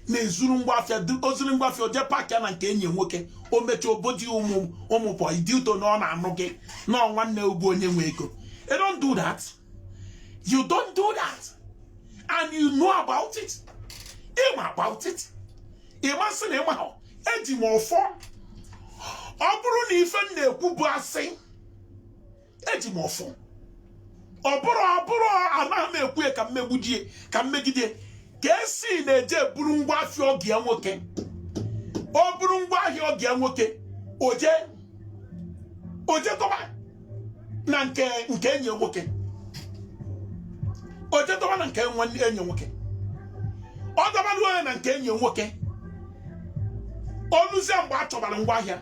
na-ezuru ngwa afịa o zuru ngwa afịa o je park ya na nke enyi nwoke o mechaa obodi ụmụ ụmụ boyi dị ụtọ na ọ na-anụ gị na nwanne gị bụ onye nwe ego you don't do that you don't do that and you know about it ịma about it ịma asị na ịmahọ eji m ọfọ ọ bụrụ na ife m na-ekwu bụ asị eji m ọfọ ọ bụrụ ọ bụrụ anaghị m ekwu ya ka m megbujie ka m megide KC na-eje eburu ngwa afịa ọgọ ya nwoke o buru ngwa ahịa ọgọ ya nwoke o je o je tọba na nke nke enyi nwoke o je tọba na nke nwanne enyi nwoke ọ dọbara ya na nke enyi nwoke o luzie mgbe a chọbara ngwa ahịa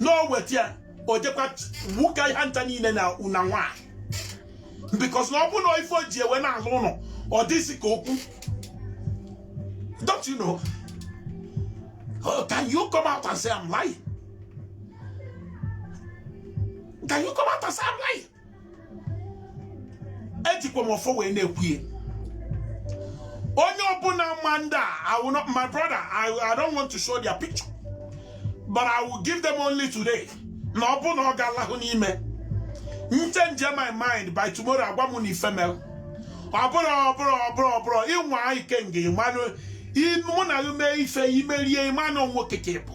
na o weta ya o jekwa wuka ihe nta niile na ụnọ nwaanyị because na ọ bụ na ife o ji wee na-alụ ụlọ ọ dịzi ka okwu don't you know oh, can you come out and say I'm lying can you come out and say I'm lying ejikwa m ọfọ wee na-ekwu ya onye ọbụla ma ndị a I will not my brother I, I don't want to show their picture but I will give them only today na ọ bụ na ọ ga-alahụ n'ime m change my mind by tomorrow agwa m unu ife mere ọ bụrụ ọ bụrụ ị nwaa ike nga ịmanụ mụ na gị mee ife i merie ịmanụ nwoke ka ị bụ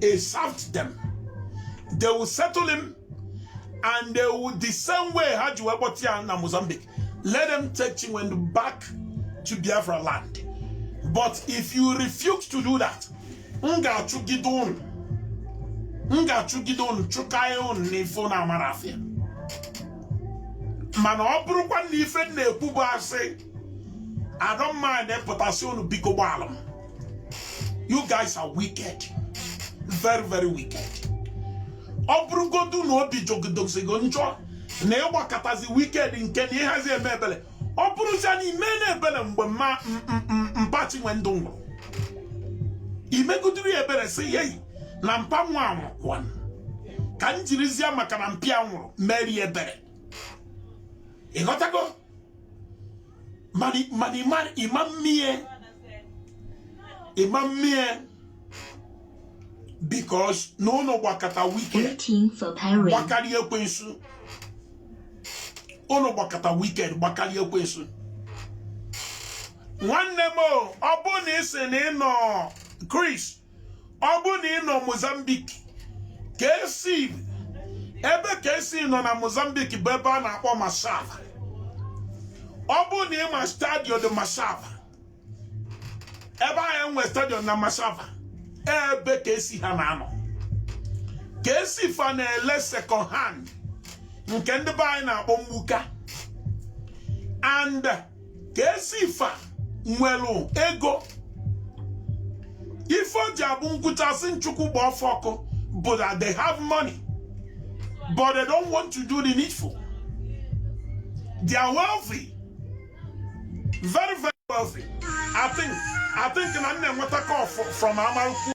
He served them. They will settle him and they will the same way ha ji wee kpọta na Mozambique. Let them take Chinwendu back to Biafra land. But if you refuse to do that, m ga-achụgide unu chụkae unu n'ife unu amara afịa mana ọ bụrụkwa na ife m na-ekwu bụ asị I don't mind pụta sị unu biko gbaalụ m you guys are wicked very very wicked ọ bụrụgodu na obi jọgidezigo njọ na ị gbakatazi wicked nke na ịhazi eme ebele ọ bụrụzia na i mena ebele mgbe mpa Chinwendu nwụrụ i megoduru ya ebere sị hei na mpa nwa a anwụkwaa ka m jirizia maka na mpa ya nwụrụ meere ya ebere ị ghọtago mana ị mana ị mana ị ma mee ya ị ma mee ya because na unu gbakata wicked gbakarị ekwensu unu gbakata wicked gbakarị ekwensu nwanne m o ọ bụ na ị sị na ị nọ Chris ọ bụ na ị nọ Mozambique KC ebe KC nọ na Mozambique bụ ebe a na-akpọ Machava ọ bụ na ị ma stadium dị Machava ebe ahụ e nwe stadium na Machava ebe KC ha na-anọ KC fa na-ele second hand nke ndị be anyị na-akpọ mgbuka and KC fa nwere ego ife o ji abụ m kwuchaa sị na Chukwu gbaa fa ọkụ bụ that they have money but they don't want to do the needful they are wealthy very very wealthy I think na m na-enweta call from Amarụkwu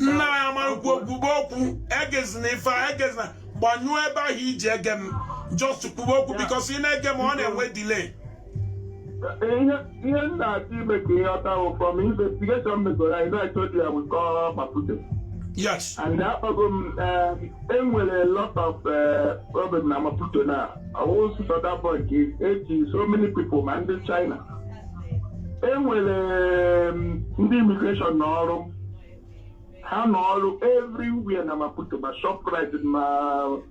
nnaa Amarụkwu kwube okwu egezina ife a egezina gbanyụọ ebe ahụ i ji ege m just kwube okwu because ị na-ege m ọ na-enwe delay ihe ihe m na-achọ ime ka ị ghọta wụ from investigation m megoro i know i told you i will call maputo yes and akpọgo m eh, enwere a lot of eh, problem na maputo now ọ wụghị sọ that boy ka eji so many people ma ndị china enwere mm, ndị immigration nọ ọrụ ha nọ ọrụ everywhere na maputo ma shoprite ma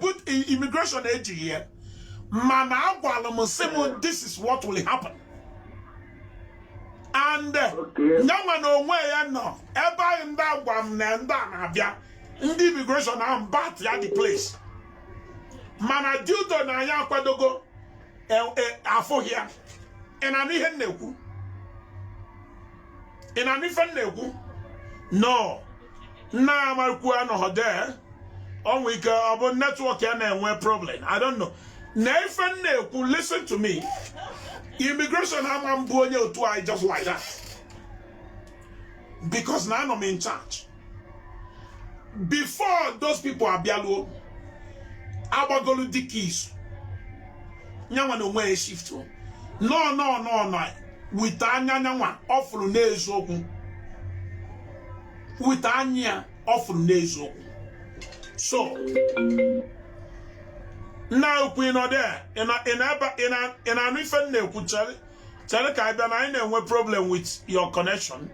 but immigration ejighị ya mana agwara m sị m this is what will happen and nyanwa na onwe ya nọ ebe anyị ndị agwa m na ndị a na-abịa ndị immigration ahụ bata the place mana due to na anyị akwadogo e, e, afụghị ya ị na-anụ ihe m na-ekwu ị na-anụ ife m na-ekwu no nna amarikwu anọghọ there o nwere ike ọ bụ network ya na-enwe problem i don't know na ife m na-ekwu listen to me immigration ama ebu onye otu anyị just like that because na anọ m in charge before those people abịaluo agbagolu the case nyanwa na onwe ya shift no no no no with anya nyanwa ọ fụrụ n'eziokwu with anya ya ọ fụrụ n'eziokwu so nna ukwu ị nọ there ị na-anụ ife m na-ekwu chere ka anyị bịa na anyị na-enwe problem with your connection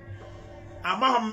amaghị m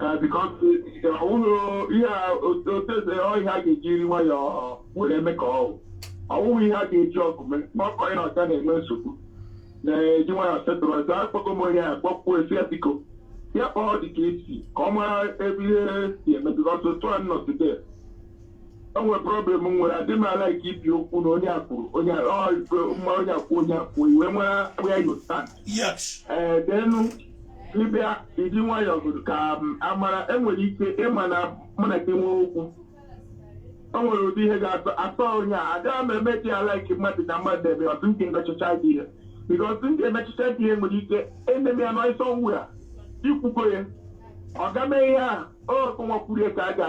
Eh, because eh, ọ bụrụ ihe a otu otu eze ọ ihe a ga-ejiri nwayọọ were eme ka ọ wụ. ọ wụghị ihe a ga-eji ọgụ mee ma ọ kọrọ na ọcha na-enwe nsogbu na-eji nwayọọ settle ọzọ akpọgo m onye a kpọkwuo esi ya biko ya kpọọ dị ka esi ka ọ mara ebe ihe si eme because otu a nọ today o nwere problem m nwere adị m ala ike ibi okwu na onye akwuru onye a- ọ, ife mma onye akwụ onye akwụ iwe nwere where you stand yes ee then ịbịa iji nwayọọ gụrụ ka m amara enwere ike ịma na mụ na gị nwee okwu o nwere ụdị ihe ga-atọ atọ onye a agaghị m eme dị ala ike mmadụ na mmadụ eme ọtụ nke emechicha dị ihe because ndị emechicha dị ihe nwere ike ememe ya n'ọsọ nwu ya ikwugo ya ọ ga-eme ihe a o kụnwa kwuru ya ka a ga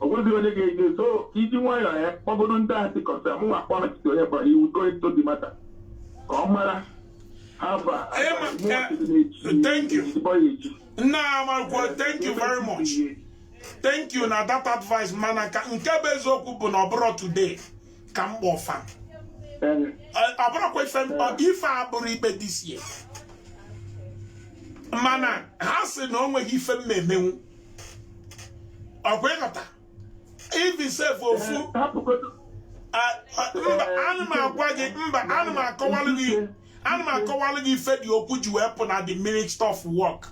o nweghị onye ga-eje so iji nwayọọ ya kpọgodo ndị asị kọsa mụ nwa kpọrọ chite onye kpọrọ iwu go into the matter ka ọ mara haba Ee, ma- mụ eh, ọchịchị na-echi thank you. ezigbo ya echi nna amarụkwa thank you very much thank you na that advice mana ka nke bụ eziokwu bụ na ọ bụrọ today ka m kpọ fa Ee, ọ bụrọkwa ife ọ- ife abụrọ ikpe this year mana ha sị na o nweghị ife m na-emenwu ọkwa ịghọta even sef ofu ana m agwa gị mba ana m akọwalụ gị ana m akọwalụ gị ife the okwu ji wee pụ na the Minister of Work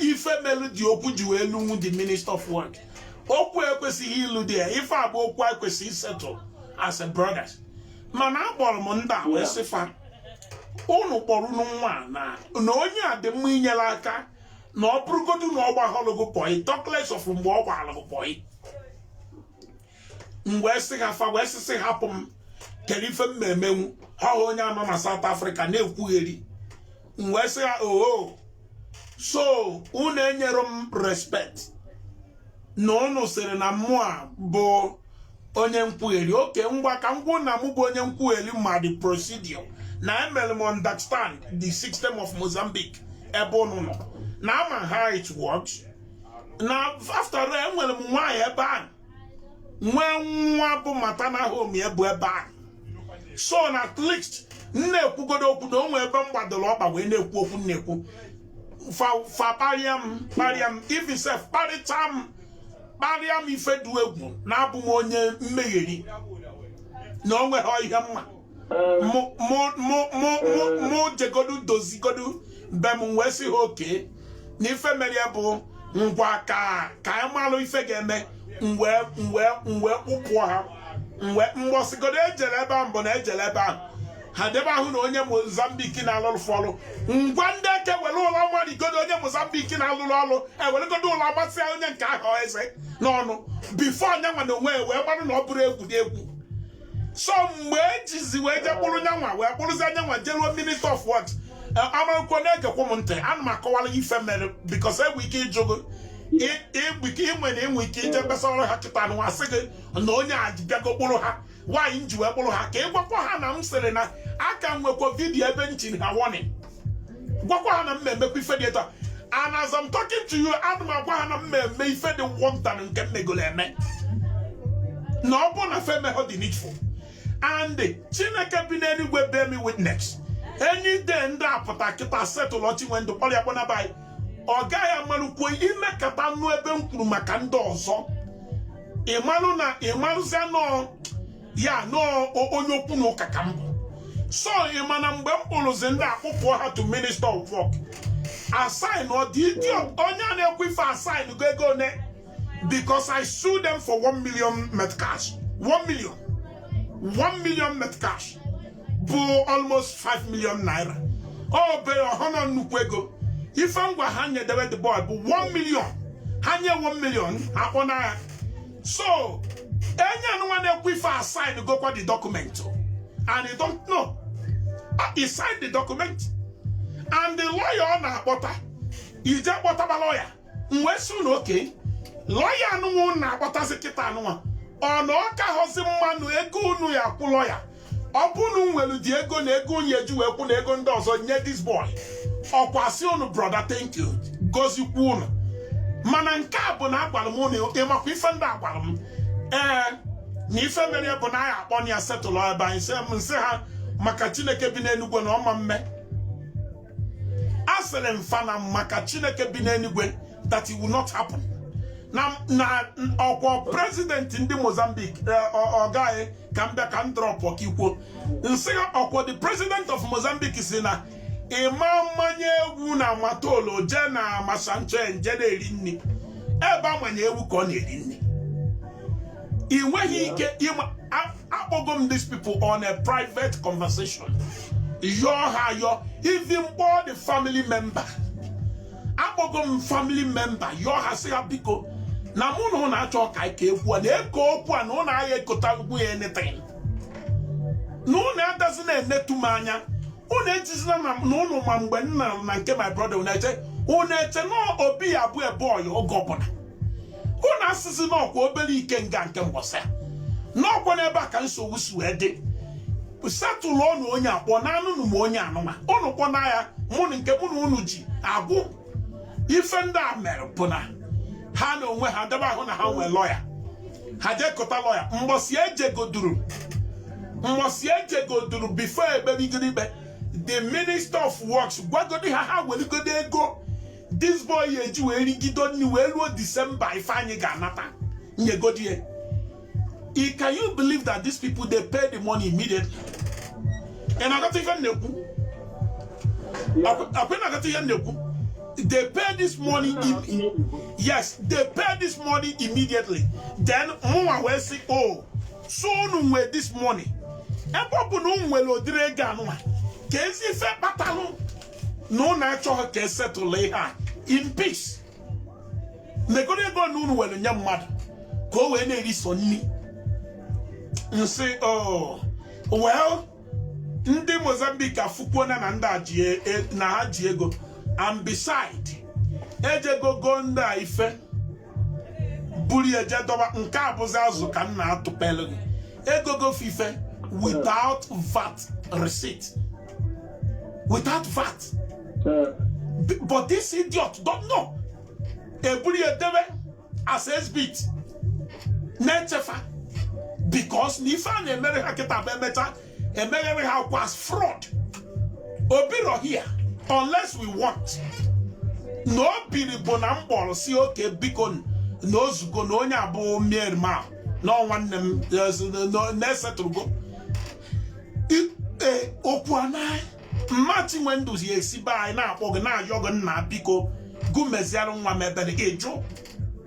ife melu the okwu ji wee lunwu the Minister of Work okwu ekwesịghị ilu there ife a bụ okwu e kwesịrị isettle as a brothers mana akpọrọ m ndị a wee sị fa unu kpọrọ unu nwa na na onye a dị mma inyere aka na ọ bụrụgodu na ọ gbaalụ gị boy talkless of mgbe ọ gbaghalụ gị boy m wee sị ha fa wee sị sị hapụ m kere ife m na-emenwu ha hụ onye a nọ na South Africa na-ekwugheri m wee sị ha oho so unu enyerọ m respect na unu sịrị na mụa bụ onye nkwugheri okay ngwa ka m gwa unu na mụ bụ onye nkwugheri ma the procedure na emere m understand the system of Mozambique ebe unu nọ na ama how it works na after all enwere m nwaanyị ebe ahụ nwee nwa bụ maternal home ya bụ ebe ahụ so na at least m na-ekwugodo okwu na o nwe ebe m gbadoro ọkpa wee na-ekwu okwu m na-ekwu fa fa kparịa m kparịa m even sef kparịcha m kparịa m ife dị egwu na abụ m onye mmegheri na o nweghị ihe m ma mụ jegodu dozigodu be m m wee sị ha okay na ife mere ya bụ ngwa ka ka anyị malụ ife ga-eme m wee kpụpụ ha mbọsịgodo e jere ebe ahụ mbụ na e jere ebe ahụ ha dị ebe ahụ na onye Mozambique na-alụrụ fa ọlụ ngwa ndị eke were ụla marigodo onye Mozambique na-alụrụ ọlụ eweregodo ụla masịa onye nke ahụ eze n'ọnụ before nya nwa na onwe wee gbarụ na ọ bụrụ egwu egwu so mgbe e jizi wee je kpụrụ nya nwa wee kpụrụzia nya nwa jeruo Minister of Work e, amarụkwo na-egekwa m ntị ana m akọwara ife mere because enwe ike ịjụgo ịnwe na enwe ike ije kpesara ha kịta nwa sị gị na onye a bịago kpụrụ ha why m ji wee kpụrụ ha ka ị gwakwa ha na m sịrị na aka m nwekwa video ebe m chiri ha warning gwakwa ha na m na-emekwa ife dị etu a and as I'm talking to you ana m agwa ha na m na-eme ife dị worse than nke m megolo eme na ọ bụ na fa emehọ the needful and Chineke bi n'eluigwe bear me witness any day ndị a pụta kịta settle Chinwendụ kpọrọ ya kpọnaba anyị ọ gaghị amalụkwo imekata nụ ebe m kwuru maka ndị ọzọ ị malụ na ị malụzia nọọ ya nọọ onye okwu na ụka ka m bụ so ị ma na mgbe m kpụrụzi ndị a kpụpụọ ha to Minister of Work a sign ọ the idiot onye a na-ekwu ife a signgo ego one because I sue them for 1 million meticais 1 million 1 million meticais bụ almost 5 million naira ọ bere ọhụrụ na nnukwu ego ife m gwa ha nyedewe the boy bụ 1 million ha nye 1 million akpọ n'agha so onye anụnwa na-ekwu ife a signgokwa the document and you don't know he signed the document and the lawyer ọ na-akpọta ije kpọtaba lawyer m wee sị unu okay lọya anụnwa unu na-akpọtazi kịta anụnwa ọ na ọ kaghọzi mma na ego unu ya-akwụ lọya ọ bụ na nwere ụdị ego na ego unu ya-eji wee kwụ na ego ndị ọzọ nye this boy ọkwasị unu brọda thank you gozikwu unu mana nke a bụ na agwara m unu ị makwa ife ndị a gwara m ee na ife mere bụ na anyị akpọna ya setụlụ ebe anyị m sị ha maka chineke bi n'enigwe na ọ ma mme asịrị m fa na maka chineke bi n'enigwe that it will not happen na na ọkwa president ndị mozambique ọ gaghị ka m bịa ka m drọpụ ọka ikwuo m sị ha ọkwa the president of mozambique sị na ịma mmanye egwu na matola je na masanche nje na-eri nri ebe amanye egwu ka ọ na-eri nri ị nweghị ike ịma akpọgo m these people on a private conversation yọọ ha yọọ even kpọọ the family member akpọgo m family member yọọ ha sị ha biko na mụ na ụnụ achọ ka ike ekwu a na-eke okwu a na ụnụ agha ekota ugwu ya anything na ụnụ adịzina enetu m anya ụnụ ejizina na ụnụ ma mgbe nna na nke my brother ụnụ eche ụnụ eche na obi ya-abụ boy oge ọbụla unu asị sị n'ọkwa obere ikenga nke mbọsị n'ọkwa n'ebe a ka nsogbu si wee dị setụlụ ọnụ onye akpọ na anụnụ ma onye anụnwa ụnụ kpọna ya mụ na nke mụ na unu ji agwụ ife ndị a mere bụ na ha na onwe ha dị ebe ahụ na ha nwee lọya ha jekọta lọya mbọsị ejegoduru mbọsị ejegoduru before ekperigoro ikpe the minister of works gwagodi ha ha weligodi ego this boy ya-eji wee rigido nri wee ruo december ife anyị ga-anata nyegodi ya I- can you believe that these people they pay the money immediately ị na-aghọta ife m na-ekwu ọkwa na-aghọta ihe m na-ekwu they pay this money im- yes they pay this money immediately then mụnwa wee sị o so unu nwee this money ebe ọ bụ na unu nwere ụdịrị ego anụnwa kezi ife kpatalụ na ụnụ achọghọ ka esetụla ihe a in peace negodu ego na unu were nye mmadụ ka o wee na-eri so nri m sị oh, well ndị Mozambique afụkwuo na na ndị a ji e, e, na ha ji ego and beside ejego go ndị a ife buru ya jee dọba nke a bụzi azụ ka m na-atụpelụ gị ego go ife without vat receipt without vat but this idiot don't know e buru ya debe as exhibit na-eche fa because na ife a na-emere ha kịta bụ emecha emeghere ha akwụkwọ as fraud o birọ here unless we want na o biri bụ na m kpọrọ sị okay biko na o zugo na onye abụọ mier ma na nwanne m na-esetụrụgo ee okwu a na mma Chinwendụ esi be anyị na-akpọ gị na-ayọ gị nna biko gụ meziara nwa m ebere ị jụ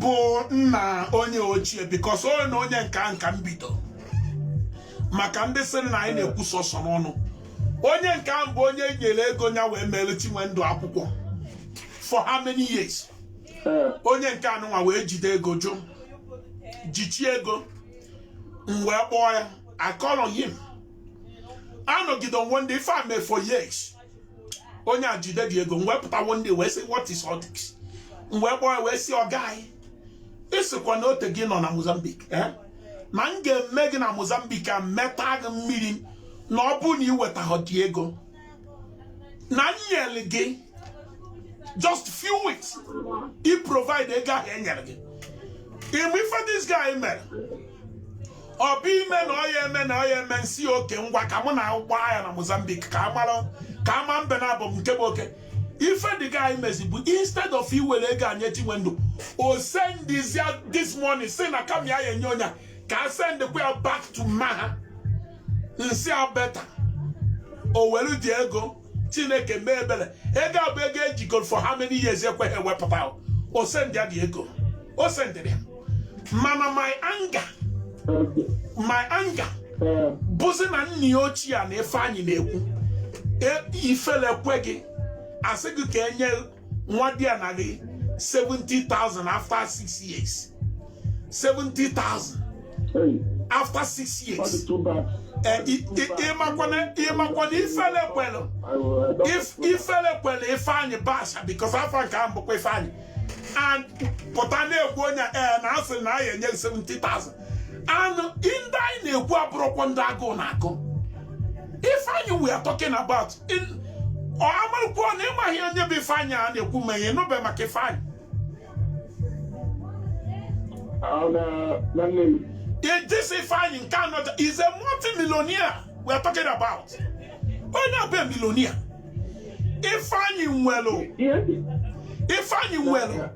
bụ nna onye ochie because onye na onye nka nka mbido maka ndị sị na anyị na-ekwu sọsọ n'ọnụ onye nke ahụ bụ onye nyere ego ya wee mere Chinwendụ akwụkwọ for how many years eh. onye nke anụnwa wee jide ego jụ jichie ego m wee kpọọ ya I call on him a nọgide one day ife a mee for years onye a jide the ego m wee pụta one day wee sị what is all this m wee kpọọ ya wee sị ọ guy ị sịkwa na o tego ị nọ na Mozambique eh? na m ga-eme gị na Mozambique a meta gị mmiri na ọ bụrụ na i wetahọ the ego na m nyere gị just few weeks i provide ego ahụ e nyere gị ị ma ife this guy mere ọ bụ ime na ọ ya eme na ọ ya eme m sị okay ngwa ka mụ na gụ gbaa ya na Mozambique ka a mara ka a ma mbe naabọ nke bụ oke ife the guy mezi bụ instead of iwere ego a nye Chinwendụ o sendizia this morning sị na ka m ya ya enye onye ka a sendịkwa ya back to mma ha m sị a better o were the ego chineke mee ebere ego a bụ ego ejigoro for how many years ekweghị ewepụta o sendịa the ego o sendịrị ya mana my anger my anger bụzi na nna ya ochie a na ifeanyị na-ekwu e, ifele kwe gị a sị gị ka e nye nwadiana gị 70,000 after 6 years 70,000 after 6 years ị makwa na ifele kwelụ ifele kwelụ ifeanyị basha because afa nke ahụ bụkwa ifeanyị and pụta na-ekwu onye ee eh, na a sịrị na a ya enye 70,000 and ndị anyị na-ekwu abụrọkwa ndị agụụ na-agụ ifeanyị we are talking about amarọkwa na ịmaghị onye bụ ifeanyị a na-ekwu ma ị nụbe maka ifeanyị this ifeanyị nke anọ is a multi-millionaire we are talking about onye a bụ millionaire ifeanyị nwere ifeanyị nwere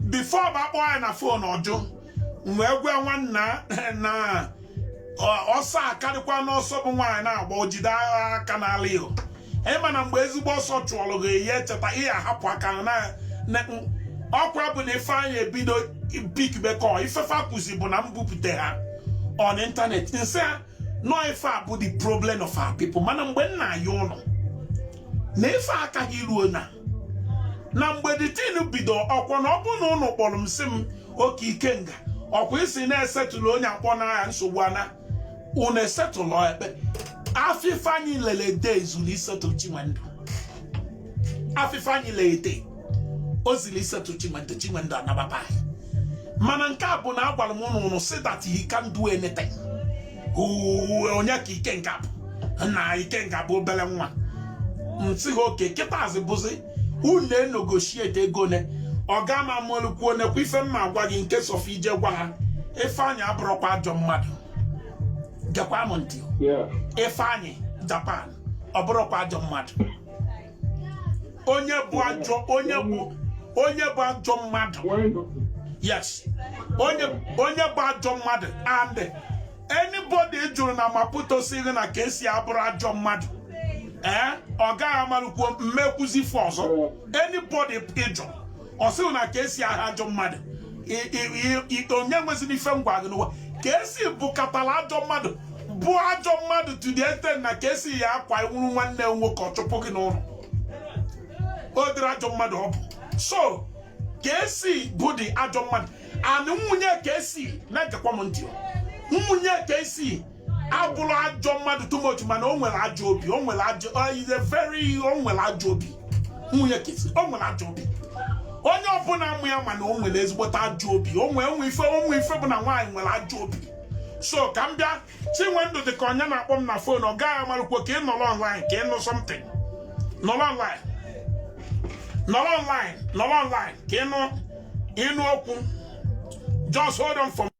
before bụ akpọọ ya na fon ọ jụ m wee gwa nwanna na ọsọ akarịkwa n'ọsọ bụ nwaanyị na-agba o jide aka n'ala o ị ma na mgbe ezigbo ọsọ chụọrọ gị ị ya-echeta ị ya-ahapụ aka na ọkwa bụ na ifeanyị ebido pickbe call ife fa kwuzi bụ na m bupute ha on internet m sị no ife a bụ the problem of our people mana mgbe nna ya ụlọ na ife akaghị iruo na na mgbe the thing bido ọkwa na ọ bụ na ụnụ kpọrọ m sị m okay ikenga ọkwa ị sị na esettle onye akpọ n'aha nsogbu ana ụnụ esettle ekpe afịfa anyị lele days na isettle chinwendu afịfa anyị lele o ziri isettle chinwendu chinwendu anababa mana nke a bụ na agwara m ụnụ ụnụ sị that he can do anything onye ka ikenga bụ na ikenga bụ obele nwa m sị ha okay kịtazi bụzi unu enegotiate ego ne ọga amalụkwuo nekwa ife m ma-agwa gị in case of ị je gwa ha ifeanyị abụrụkwa ajọ mmadụ gekwa m ntị ifeanyị japan ọ bụrụkwa ajọ mmadụ onye bụ ajọ onye bụ onye bụ ajọ mmadụ yes onye onye bụ ajọ mmadụ and anybody ị jụrụ na Maputo sịrị na KC abụrụ ajọ mmadụ ee eh, ọga amarụkwuo m ma ekwuzi ife ọzọ anybody ị jụ ọ sịrị na KC aha ajọ mmadụ onye nweziri ife m gwa gị n'ụwa KC bụkatara ajọ mmadụ bụ ajọ mmadụ to the extent na KC ya akwa ị wụrụ nwanne nwoke ọ chụpụ gị n'ụlọ ụdịrị ajọ mmadụ ọ bụ so KC bụdị ajọ mmadụ and nwunye KC na-egekwa m ntị nwunye KC abụrụ ajọ mmadụ too much mana o nwere ajọ obi o nwere ajọ is a very o nwere ajọ obi nwunye KC o nwere ajọ obi onye ọbụla ma ya ma na o nwere ezigbote ajọ obi o nwere o nwe ife o nwe ife bụ na nwaanyị nwere ajọ obi so ka m bịa chinwendụ dị ka onye na-akpọ m na fon ọga amarụkwuo ka ị nọrọ online ka ị nụ something nọrọ online nọrọ online nọrọ online ka ị nụ ị nụ okwu just hold on for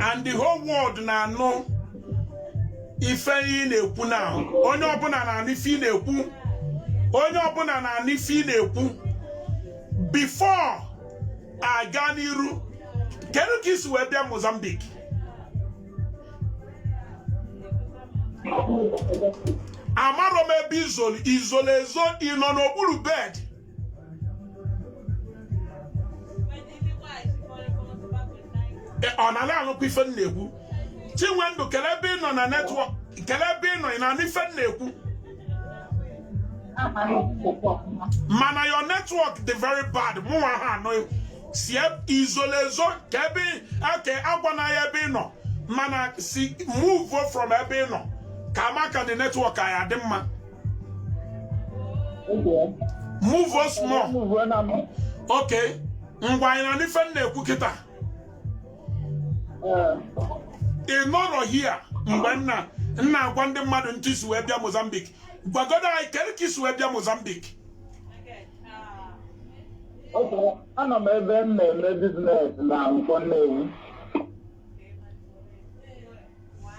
and the whole world na-anụ ife ị na-ekwu now onye ọbụla na-anụ ife ị na-ekwu onye ọbụla na-anụ ife ị na-ekwu before aga n'iru kedu ka ị si wee bịa Mozambique amarọ m ebe ị zolu ị zolu ezo ị nọ n'okpuru bed ụnụ na-anụkwa ife m na-ekwu chinwendu kele ebe ị nọ na network kele ebe ị nọ ị na-anụ ife m na-ekwu mana your network dị very bad mụnwa ha anụ si i zolu ezo ka ebe eke agwana anyị ebe ị nọ mana si move from ebe ị nọ ka maka the network anyị adị mma Okay. move o small Move on am. okay ngwa anyị na-anụ ife m na-ekwu kịta Eh, ị nọrọ here mgbe m na m na-agwa ndị mmadụ etu i si wee bịa mozambique gwagodo anyị kedu ka i si wee bịa mozambique Okay. Anọ m ebe m na-eme business na Nkwo Nnewi.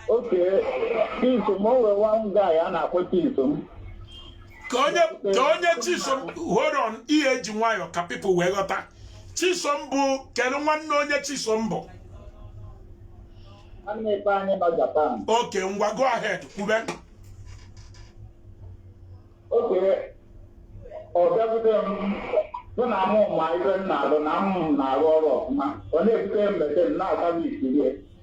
Okay, Chisom, o nwere one guy a na-akpọ Chisom. ka onye ka onye chisom hold on ị ya-eji nwayọ ka people wee ghọta chisom bụ kedu nwanne onye chisom bụ Nwanne Ifeanyị nọ Japan. okay ngwa go ahead kwube Okay, ọ bịakwute m sị na mụ ma ife m na-alụ na m na-arụ ọrụ ọfụma. Ọ na-ebute m mete m na-ata m isi ihe.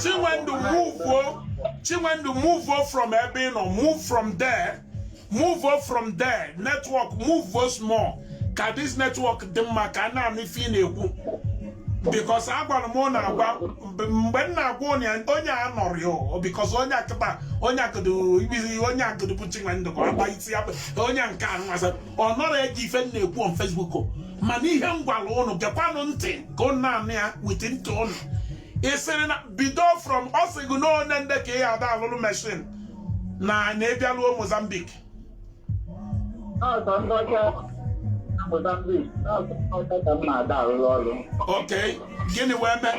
Chinwendu move o Chinwendu move o from ebe ị nọ move from there move o from there network move o small ka this network dị mma ka a na-anụ ife ị na-ekwu because agwara m na agwa mgbe m na-agwa onye a nọrị o because onye a kịta onye akụdụ ibizi onye akụdụ bụ Chinwendu ka ọ gba isi ya onye nke a nwasa ọ nọrọ ege ife m na-ekwu on Facebook o. mana ihe m gwara ụnụ gekwanụ ntị ka ụnụ na-anụ ya with ntị ụnụ ị sịrị na bido from ọ sị gị na o nwe ndị ka ị ya ada alụrụ machine na na ị bịaruo Mozambique na ọ sọ ndị ọcha na Mozambique na ọ sọ ndị ọcha ka m na-ada arụrụ ọrụ okay gịnị wee mee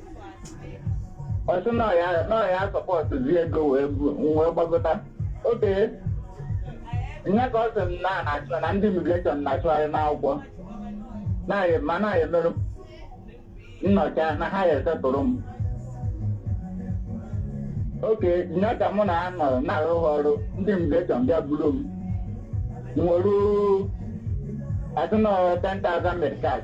ọ sị na ọ ya na ọ ya support zi ego wee bu wee gbagota okay nya ka ọ sị m na na-achọ na ndị immigration na-achọgharị n'akwụkwọ na-ayị ma na-ayị merụ ndị ọcha na ha ya esetụrụ m okay nya ka mụ na ha nọ na-arụ ha ọrụ ndị immigration bịa buru m nwere as in 10,000 meticais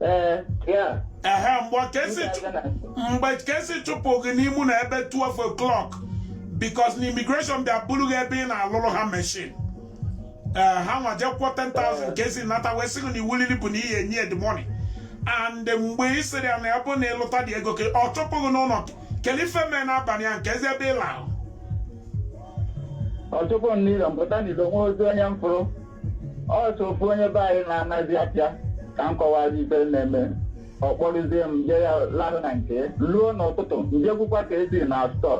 Eh, yeah. ehe mgbe KC ndị chụ- aga na- mgbe KC chụpụ gị n'ime ụnọ ebe 12 o'clock bikos na imigreshọn bịa buru gị ebe ị na-alụrụ ha meshin ee ha nwa jee kwụọ 10,000 KC nata wee sị gị na iwu lili bụ na ihe enye the money and mgbe ị sịrị ya na ya bụ na ị lụta the ego ka ọ chụpụ gị n'ụlọ gị kedu ife mee n'abalị ya kezi ebe ị lahụ ọ chụpụ m n'ilo m pụta n'ilo o nwerọzi onye m fụrụ ọ sọ ofu onye be anyị na-anazi afịa ka m kọwazi ife na-eme ọ kpọrụzie m je ya lahụ na nke ruo n'ụtụtụ m jekwukwa KC na stọọ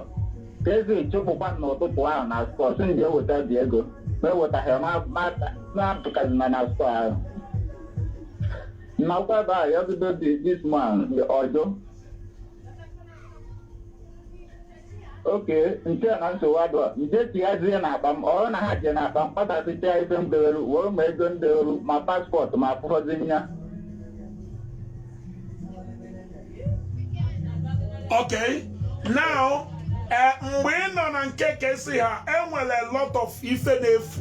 KC chụpụkwa m n'ụtụtụ ahụ na stọọ sị m jee weta the ego ma ewetaghị m apụtazina na stọọ ahụ na ọ kwa ebe ahụ ya bido dị this man ọjọ okay m chee na nsogbu adịrọ m jee tighazie n'akpa m ọ bụrụ na ha jee n'akpa m kpatasịcha ife m dewere were ma ego m dewere ma paspọtụ m afụrọzi m ya okay now eh, mgbe ị nọ na nke KC ha enwere a lot of ife na-efu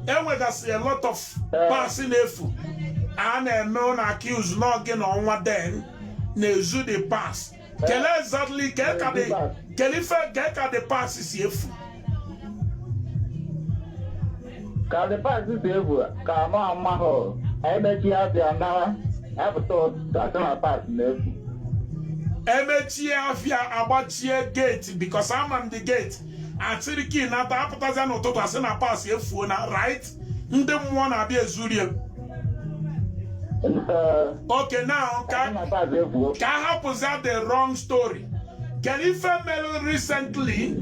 enwegasị a lot of parts na-efu a na-eme unu accuse na ọ gị na Ọnwa dem na-ezu the parts kele exactly ka ị ka the kele ife ka ị ka the parts si efu ka the parts si efu ka m amarọ emechie afịa naa apụta asị na parts na-efu emechie afịa agbachie geeti bikos ama m the geeti achịrị kii nata apụtazia n'ụtụtụ asị na parts efuona right ndị mmụọ na-abịa ezuru ya okay now ka a hapụzi the long story kedu ife mere recently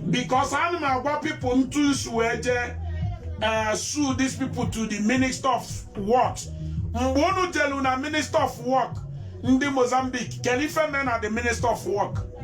because ana m agwa people ntu nsu wee jee eh, sue these people to the minister of work mgbe unu jelu na minister of work ndị Mozambique kedu ife mere na the minister of work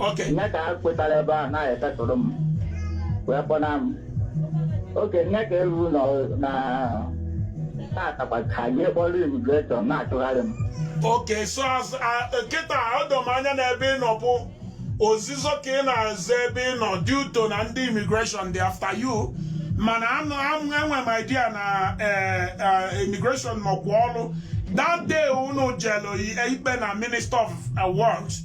Okay. nya ka a kwetara ebe a na-esettle m wee kpọna m okay nya ka eruru nọ na tatakwa KC kpọrọ imigreshọn na-achụgharị m Okay, so as uh, kịta o doo m anya na ebe ị nọ bụ ozizo ka ị na-ezo ebe ị nọ due to na ndị immigration dị after you mana anụ amụ enwe m idea na eh, eh, immigration nọkwa ọrụ that day unu jelu ikpe na minister of eh, works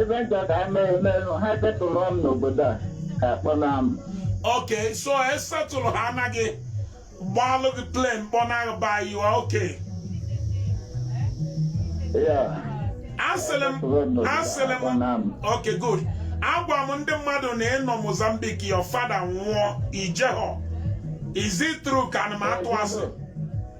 ebe nchọ ka anyị mee emerụ ha settle m n'obodo a ka akpọna m okay so e settle ha anaghị gbalụ gị plane kpọna gị ba yiwa okay yeah asịrị m asịrị m akpọna m okay good agwa m ndị mmadụ na ị nọ mozambique your father nwụọ i jehọ is it true ka ana m atụ asị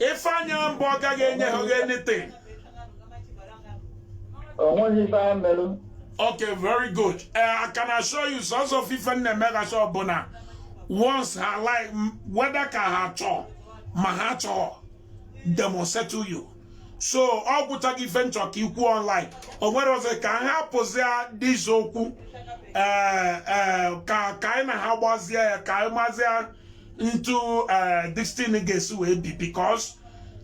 Ifeanyi Ambo agaghị enye ha oge anything. Onweghị ife a merụ. Okay, very good. Uh, I can assure you, sons of Ife na-eme case ọbụla once ha like whether ka ha chọọ ma ha chọhọ they must settle you. So ọ gwụchaghị ife nchọ ka i kwuo online o nwere ọzọ ka ha pụzia this okwu eh, eh, ka ka anyị na ha gbazie ya ka anyị mazie otu eh, this thing ga-esi wee bie because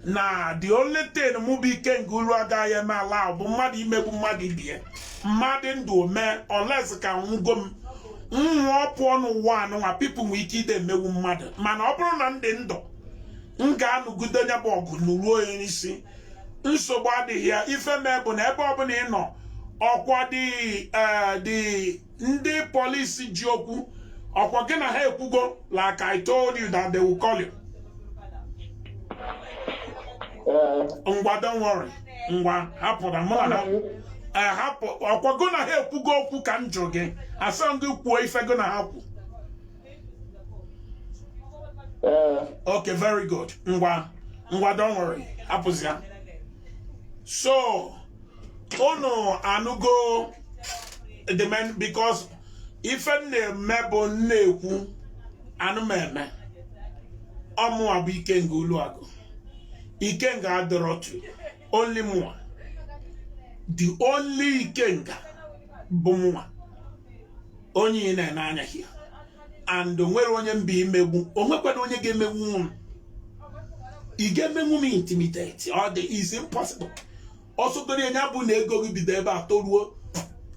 na the only thing mụ bụ ikenga uruagụ agaghị eme allow bụ mmadụ imegbu mmadụ ibie mmadụ ndụ mee unless ka nwụgo m nwụọ pụọ n'ụwa anụnwa people nwee ike ide emegbu mmadụ mana ọ bụrụ na m dị ndụ m ga-anụgide onye ọ bụ ọgụ nụruo ya n'isi nsogbu adịghị ya ife mee bụ na ebe ọbụla ị nọ ọkwa dị eh, dị ndị polisi ji okwu ọkwa gị na ha ekwugo like I told you that they will call you ngwa don't worry ngwa hapụ na mụ na eh, hapụ ọkwa gị na ha ekwugo okwu ka m jụ gị asịhọ gị kwuo ife gị na ha kwu okay very good ngwa ngwa don't worry hapụzi ya so unu anụgo the man because ife na-eme bụ m na-ekwu ana m eme ọ mụwa bụ ikenga uruagụ ikenga adọrọtu only mụwa the only ikenga bụ mụwa onye ị na-ene anya here and onwerọ onye m ga-emegbu onwekwarọ onye ga-emegbu m ị ga-emenwu m intimidate ọ dị it's impossible ọ sọgodu ya bụ na ego gị bido ebe a toruo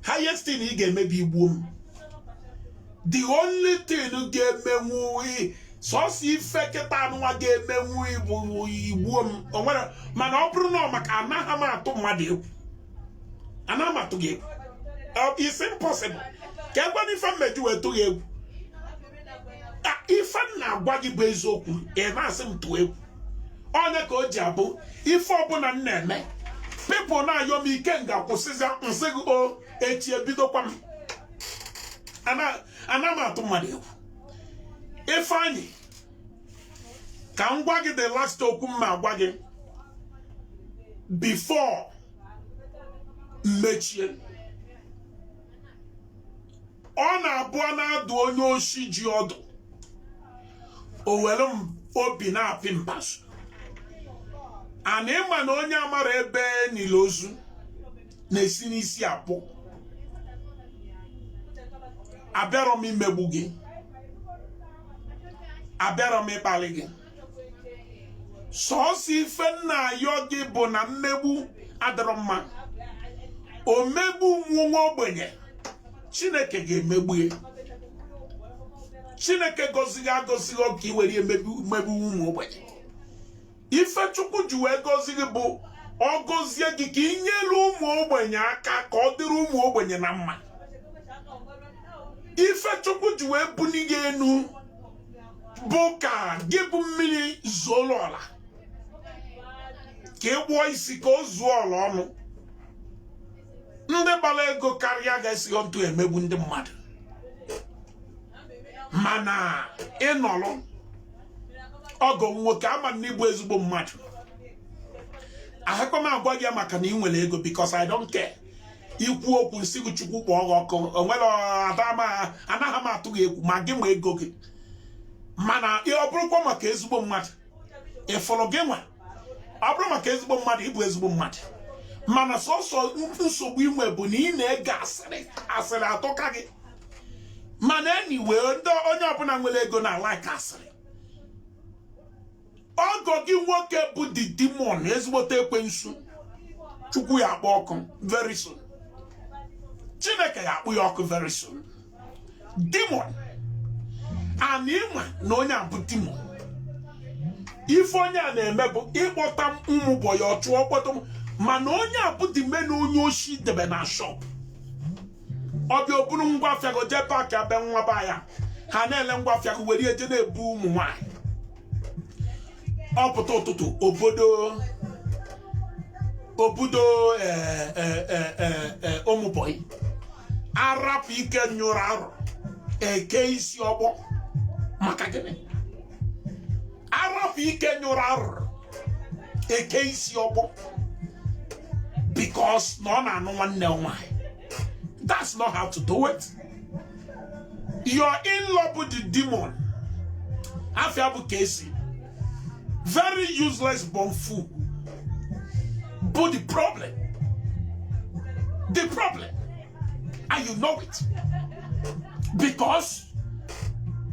highest thing ị ga-eme bụ igbuo m the only thing ị ga-emenwu sọsọ ife kịta anụnwa ga-emenwu igbuo m onwere mana ọ bụrụ na ọ maka anaghị m atụ mmadụ egwu anaghị m atụ gị egwu it's impossible kekwanụ ife m ga-eji wee tụ gị egwu ife m na-agwa gị bụ eziokwu ị na-asị m tụọ egwu onye ka o ji abụ ife ọbụla m na-eme people na-ayọ m ikenga kwụsịzia m sị gị o echi ebidokwa m anaghị m atụ mmadụ egwu ife anyị ka m gwa gị the last okwu m ma-agwa gị before m mechie ọ na-abụ a na-adụ onye oshi ji ọdụ o were obi na-apị mbazu and ị ma na onye amara ebe e nili ozu na-esi n'isi apụ abịarọ m imegbu gị abịarọ m ịkpali gị sọọsọ ife m na-ayọ gị bụ na mmegbu adịrọ mma omegbu nwa nwa ogbenye chineke ga-emegbu ya chineke gọzi gị agọzi gị ọ ka i were emegbu ụmụ ogbenye ife chukwu ji wee gọzi gị bụ ọ gọzie gị ka ị nyere ụmụ ogbenye aka ka ọ dịrị ụmụ ogbenye na mma ife chukwu ji wee buni gị enu bụ ka gị bụ mmiri zoro ọra ka i gbuo eshi ka o zuo ọra ọnụ ndị gbara ego karịa gị esighọ ntụ emegbu ndị mmadụ mana ị nọrọ ọgọ nwoke ama na ị bụ ezigbo mmadụ ahakwa m agwa gị maka na ị nwere ego because I don't care i kwuo okwu m sị gị chukwu kpọọ gị ọkụ o nwerọ anaghị m atụ gị egwu ma gị ma ego gị mana ọ bụrụkwa maka ezigbo mmadụ ị fụrụ gị nwa ọ bụrụ maka ezigbo mmadụ ị bụ ezigbo mmadụ mana sọsọ nsogbu i nwe bụ na ị na-ege asịrị asịrị atọka gị mana anyway ndị onye ọbụla nwere ego na-alike asịrị ọgọ gị nwoke bụ the demon ezigbote ekwensu chukwu ya-akpọ ọkụ very soon chineke ga-akpọ ya ọkụ very soon demon and ị ma na onye a bụ demon ife onye a na-eme bụ ịkpọta ụmụ bọyị ọ chụọ ọ kpọta mana onye a bụ demon na onye oshi debe na shop ọ bịa o buru ngwa afịa gị jee paakịa be nwa bọyị ya ha na-ele ngwa afịa gị were eje na-ebu ụmụ nwaanyị ọ pụta ụtụtụ o bodo o bodo eh, eh, eh, eh, eh, ụmụbọyị a rapụ ike nyụrụ arụ e kee isi ọkpọ maka gịnị a rapụ ike nyụrụ arụ e kee isi ọkpọ because na ọ na-anụ nwanne m nwaanyị that's not how to do it your in-law bụ the demon afa ya bụ Casey very useless born fool bụ the problem the problem and you know it because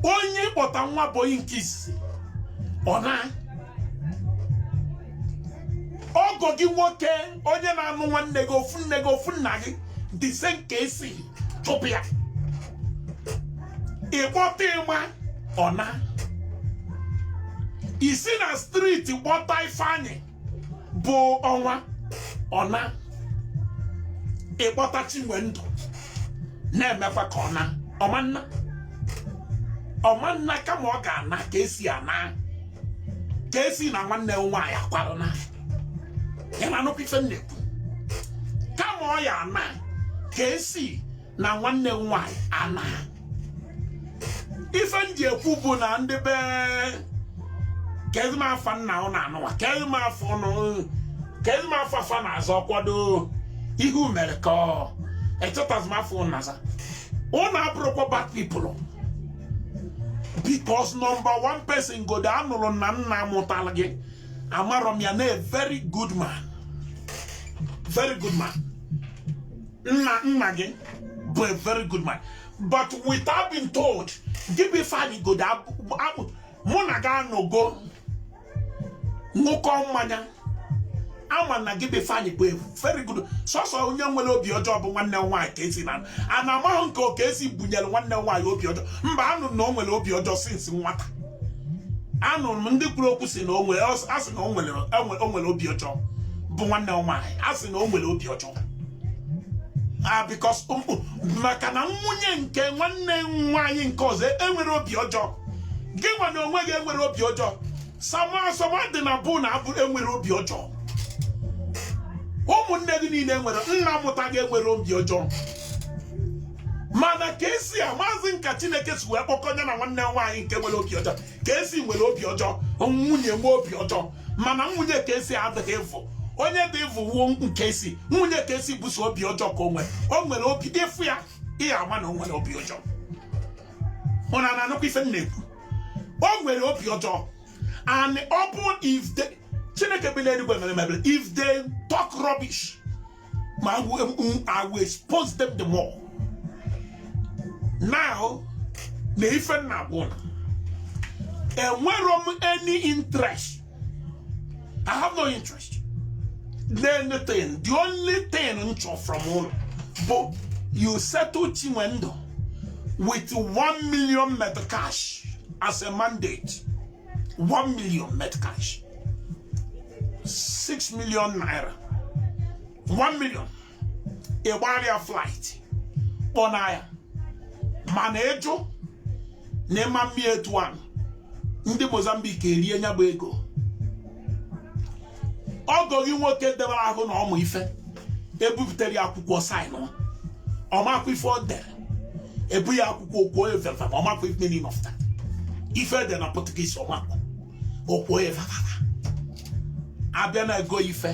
onye kpọta nwa boyi nke izizi ọ na ọgọ gị nwoke onye na-anụ nwanne gị ofu nne gị ofu nna gị the same Casey chụpụ ya ị kpọta ịma ọ na i si na street kpọta Ifeanyị bụ ọnwa ọ na ị kpọta Chinwendụ na-emekwa ka ọ na ọmanna ọmanna kama ọ ga-ana Casey ana Casey na nwanne nwaanyị akwara naa ị na-anụkwa ife m na-ekwu kama ọ ya ana Casey na nwanne nwaanyị ana ife m ji ekwu bụ na ndị be kezi m afa nna ụnụ anụwa kezi m afa ụnụ kezi m afa fa na-azọ kwado ihu mere ka ọ echetazi m afa ụnụ na-aza ụnụ abụrọkwa bad people because number one person Igodo anụrụ na nna mụtara gị amarọ m ya na a very good man very good man nna nna gị bụ a very good man but without being told gị bụ Ifeanyi Igodo mụ na gị anọgo ṅụkọ mmanya ama m na gị bụ Ifeanyi bụ a very good sọsọ onye nwere obi ọjọọ bụ nwanne nwaanyị Casey na a na amaghị nke ọ Casey bunyere nwanne nwaanyị obi ọjọọ mba anụ na o nwere obi ọjọọ since nwata anụrụ m ndị kwuru okwu sị na o nwe a sị na o nwere obi ọjọọ bụ nwanne nwaanyị a sị na o nwere obi ọjọọ ah, because um, um, maka na nwunye nke nwanne nwaanyị nke ọzọ enwerọ obi ọjọọ gị nwa na onwe gị enwerọ obi ọjọọ sama sama dị na bụ na abụ enwerọ obi ọjọọ ụmụnne gị niile nwere nna mụta gị enwerọ obi ọjọọ mana Casey amazị m ka chineke si wee kpọkọ ya na nwanne nwaanyị nke nwere obi ọjọọ Casey nwere obi ọjọọ nwunye nwe obi ọjọọ mana nwunye Casey adịghị evil onye dị evil wụ Casey nwunye Casey bụ sọ obi ọjọọ ka o nwere o nwere obi ị fụ ya ị ya-ama na o nwere obi ọjọọ ụnụ na-anụkwa ife m na-ekwu o nwere obi ọjọọ and ọ bụ if they chineke bi n'eluigwe mere m ebere if they talk rubbish ma I will expose them the more now na ife m na-agwa ụnụ enwerọ m any interest I have no interest n'anything the only thing m chọrọ from ụnụ bụ you settle Chinwendu with 1 million meticais as a mandate 1 million meticais 6 million naira 1 million ị gbaara ya flight kpọna ya mana ị jụ na ị ma mme etu ahụ ndị Mozambique erie nya bụ ego ọgọ gị nwoke debere ahụ na ọmụ ife e bupụtara ya akwụkwọ saịnụọ ọ makwa ife o dere ebu ya akwụkwọ okwu onye vevem ọ makwa ife meaning of that ife dị na Portuguese ọ makwa okwo ife a bịa na-ego ife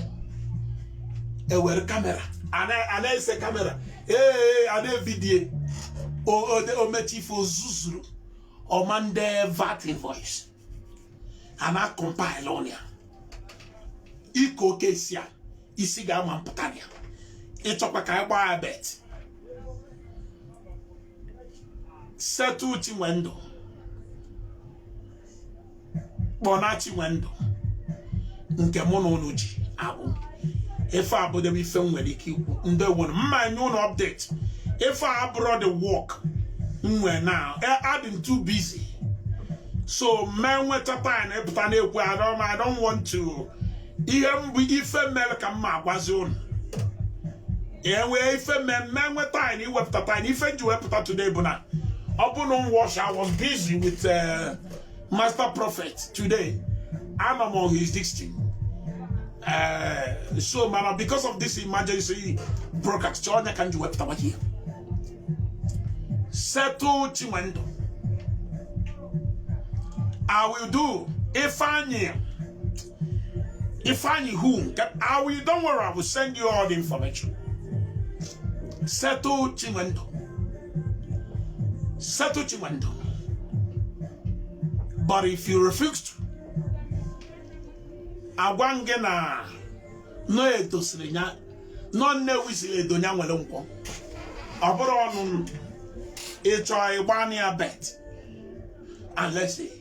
e were kamera a na-ese kamera ee a na-evideo omechi ife o zuzuru ọ ma ndị vat invoice a na-akọmpaịlụ ọnụ ya ike oke isi a isi ga-ama mpụta ya ị chọkwa ka anyị gbaa ya bet settle Chinwendụ kpọna Chinwendụ nke mụ na ụnụ ji abụ ife abụdebe ife m nwere ike ikwu ndị wụrụ mma nye ụnụ update ife a abụrọ the work m nwee na adị m too busy so m enweta time ịpụta na-ekwu I don't want to ihe mbụ ife mere ka m ma-agwazi ụnụ enwee ife m enweta time iwepụta time ife ji wepụta today bụ na ọ bụ na I was I was busy with uh, master prophet today I'm among his district uh, so mana because of this emergency broadcast ọ nya ka m ji wepụta nwa ihe settle Chinwendu I will do Ifeanyi Ifeanyi who? I will, don't worry, I will send you all the information. Settle Chinwendu. Settle Chinwendu. But if you refuse to, agwa m gị na no Edo siri nya no Nnewi siri Edo nya nwere Nkwọ ọ bụrụ ụnụ chọọ ịgba ya bet and let's see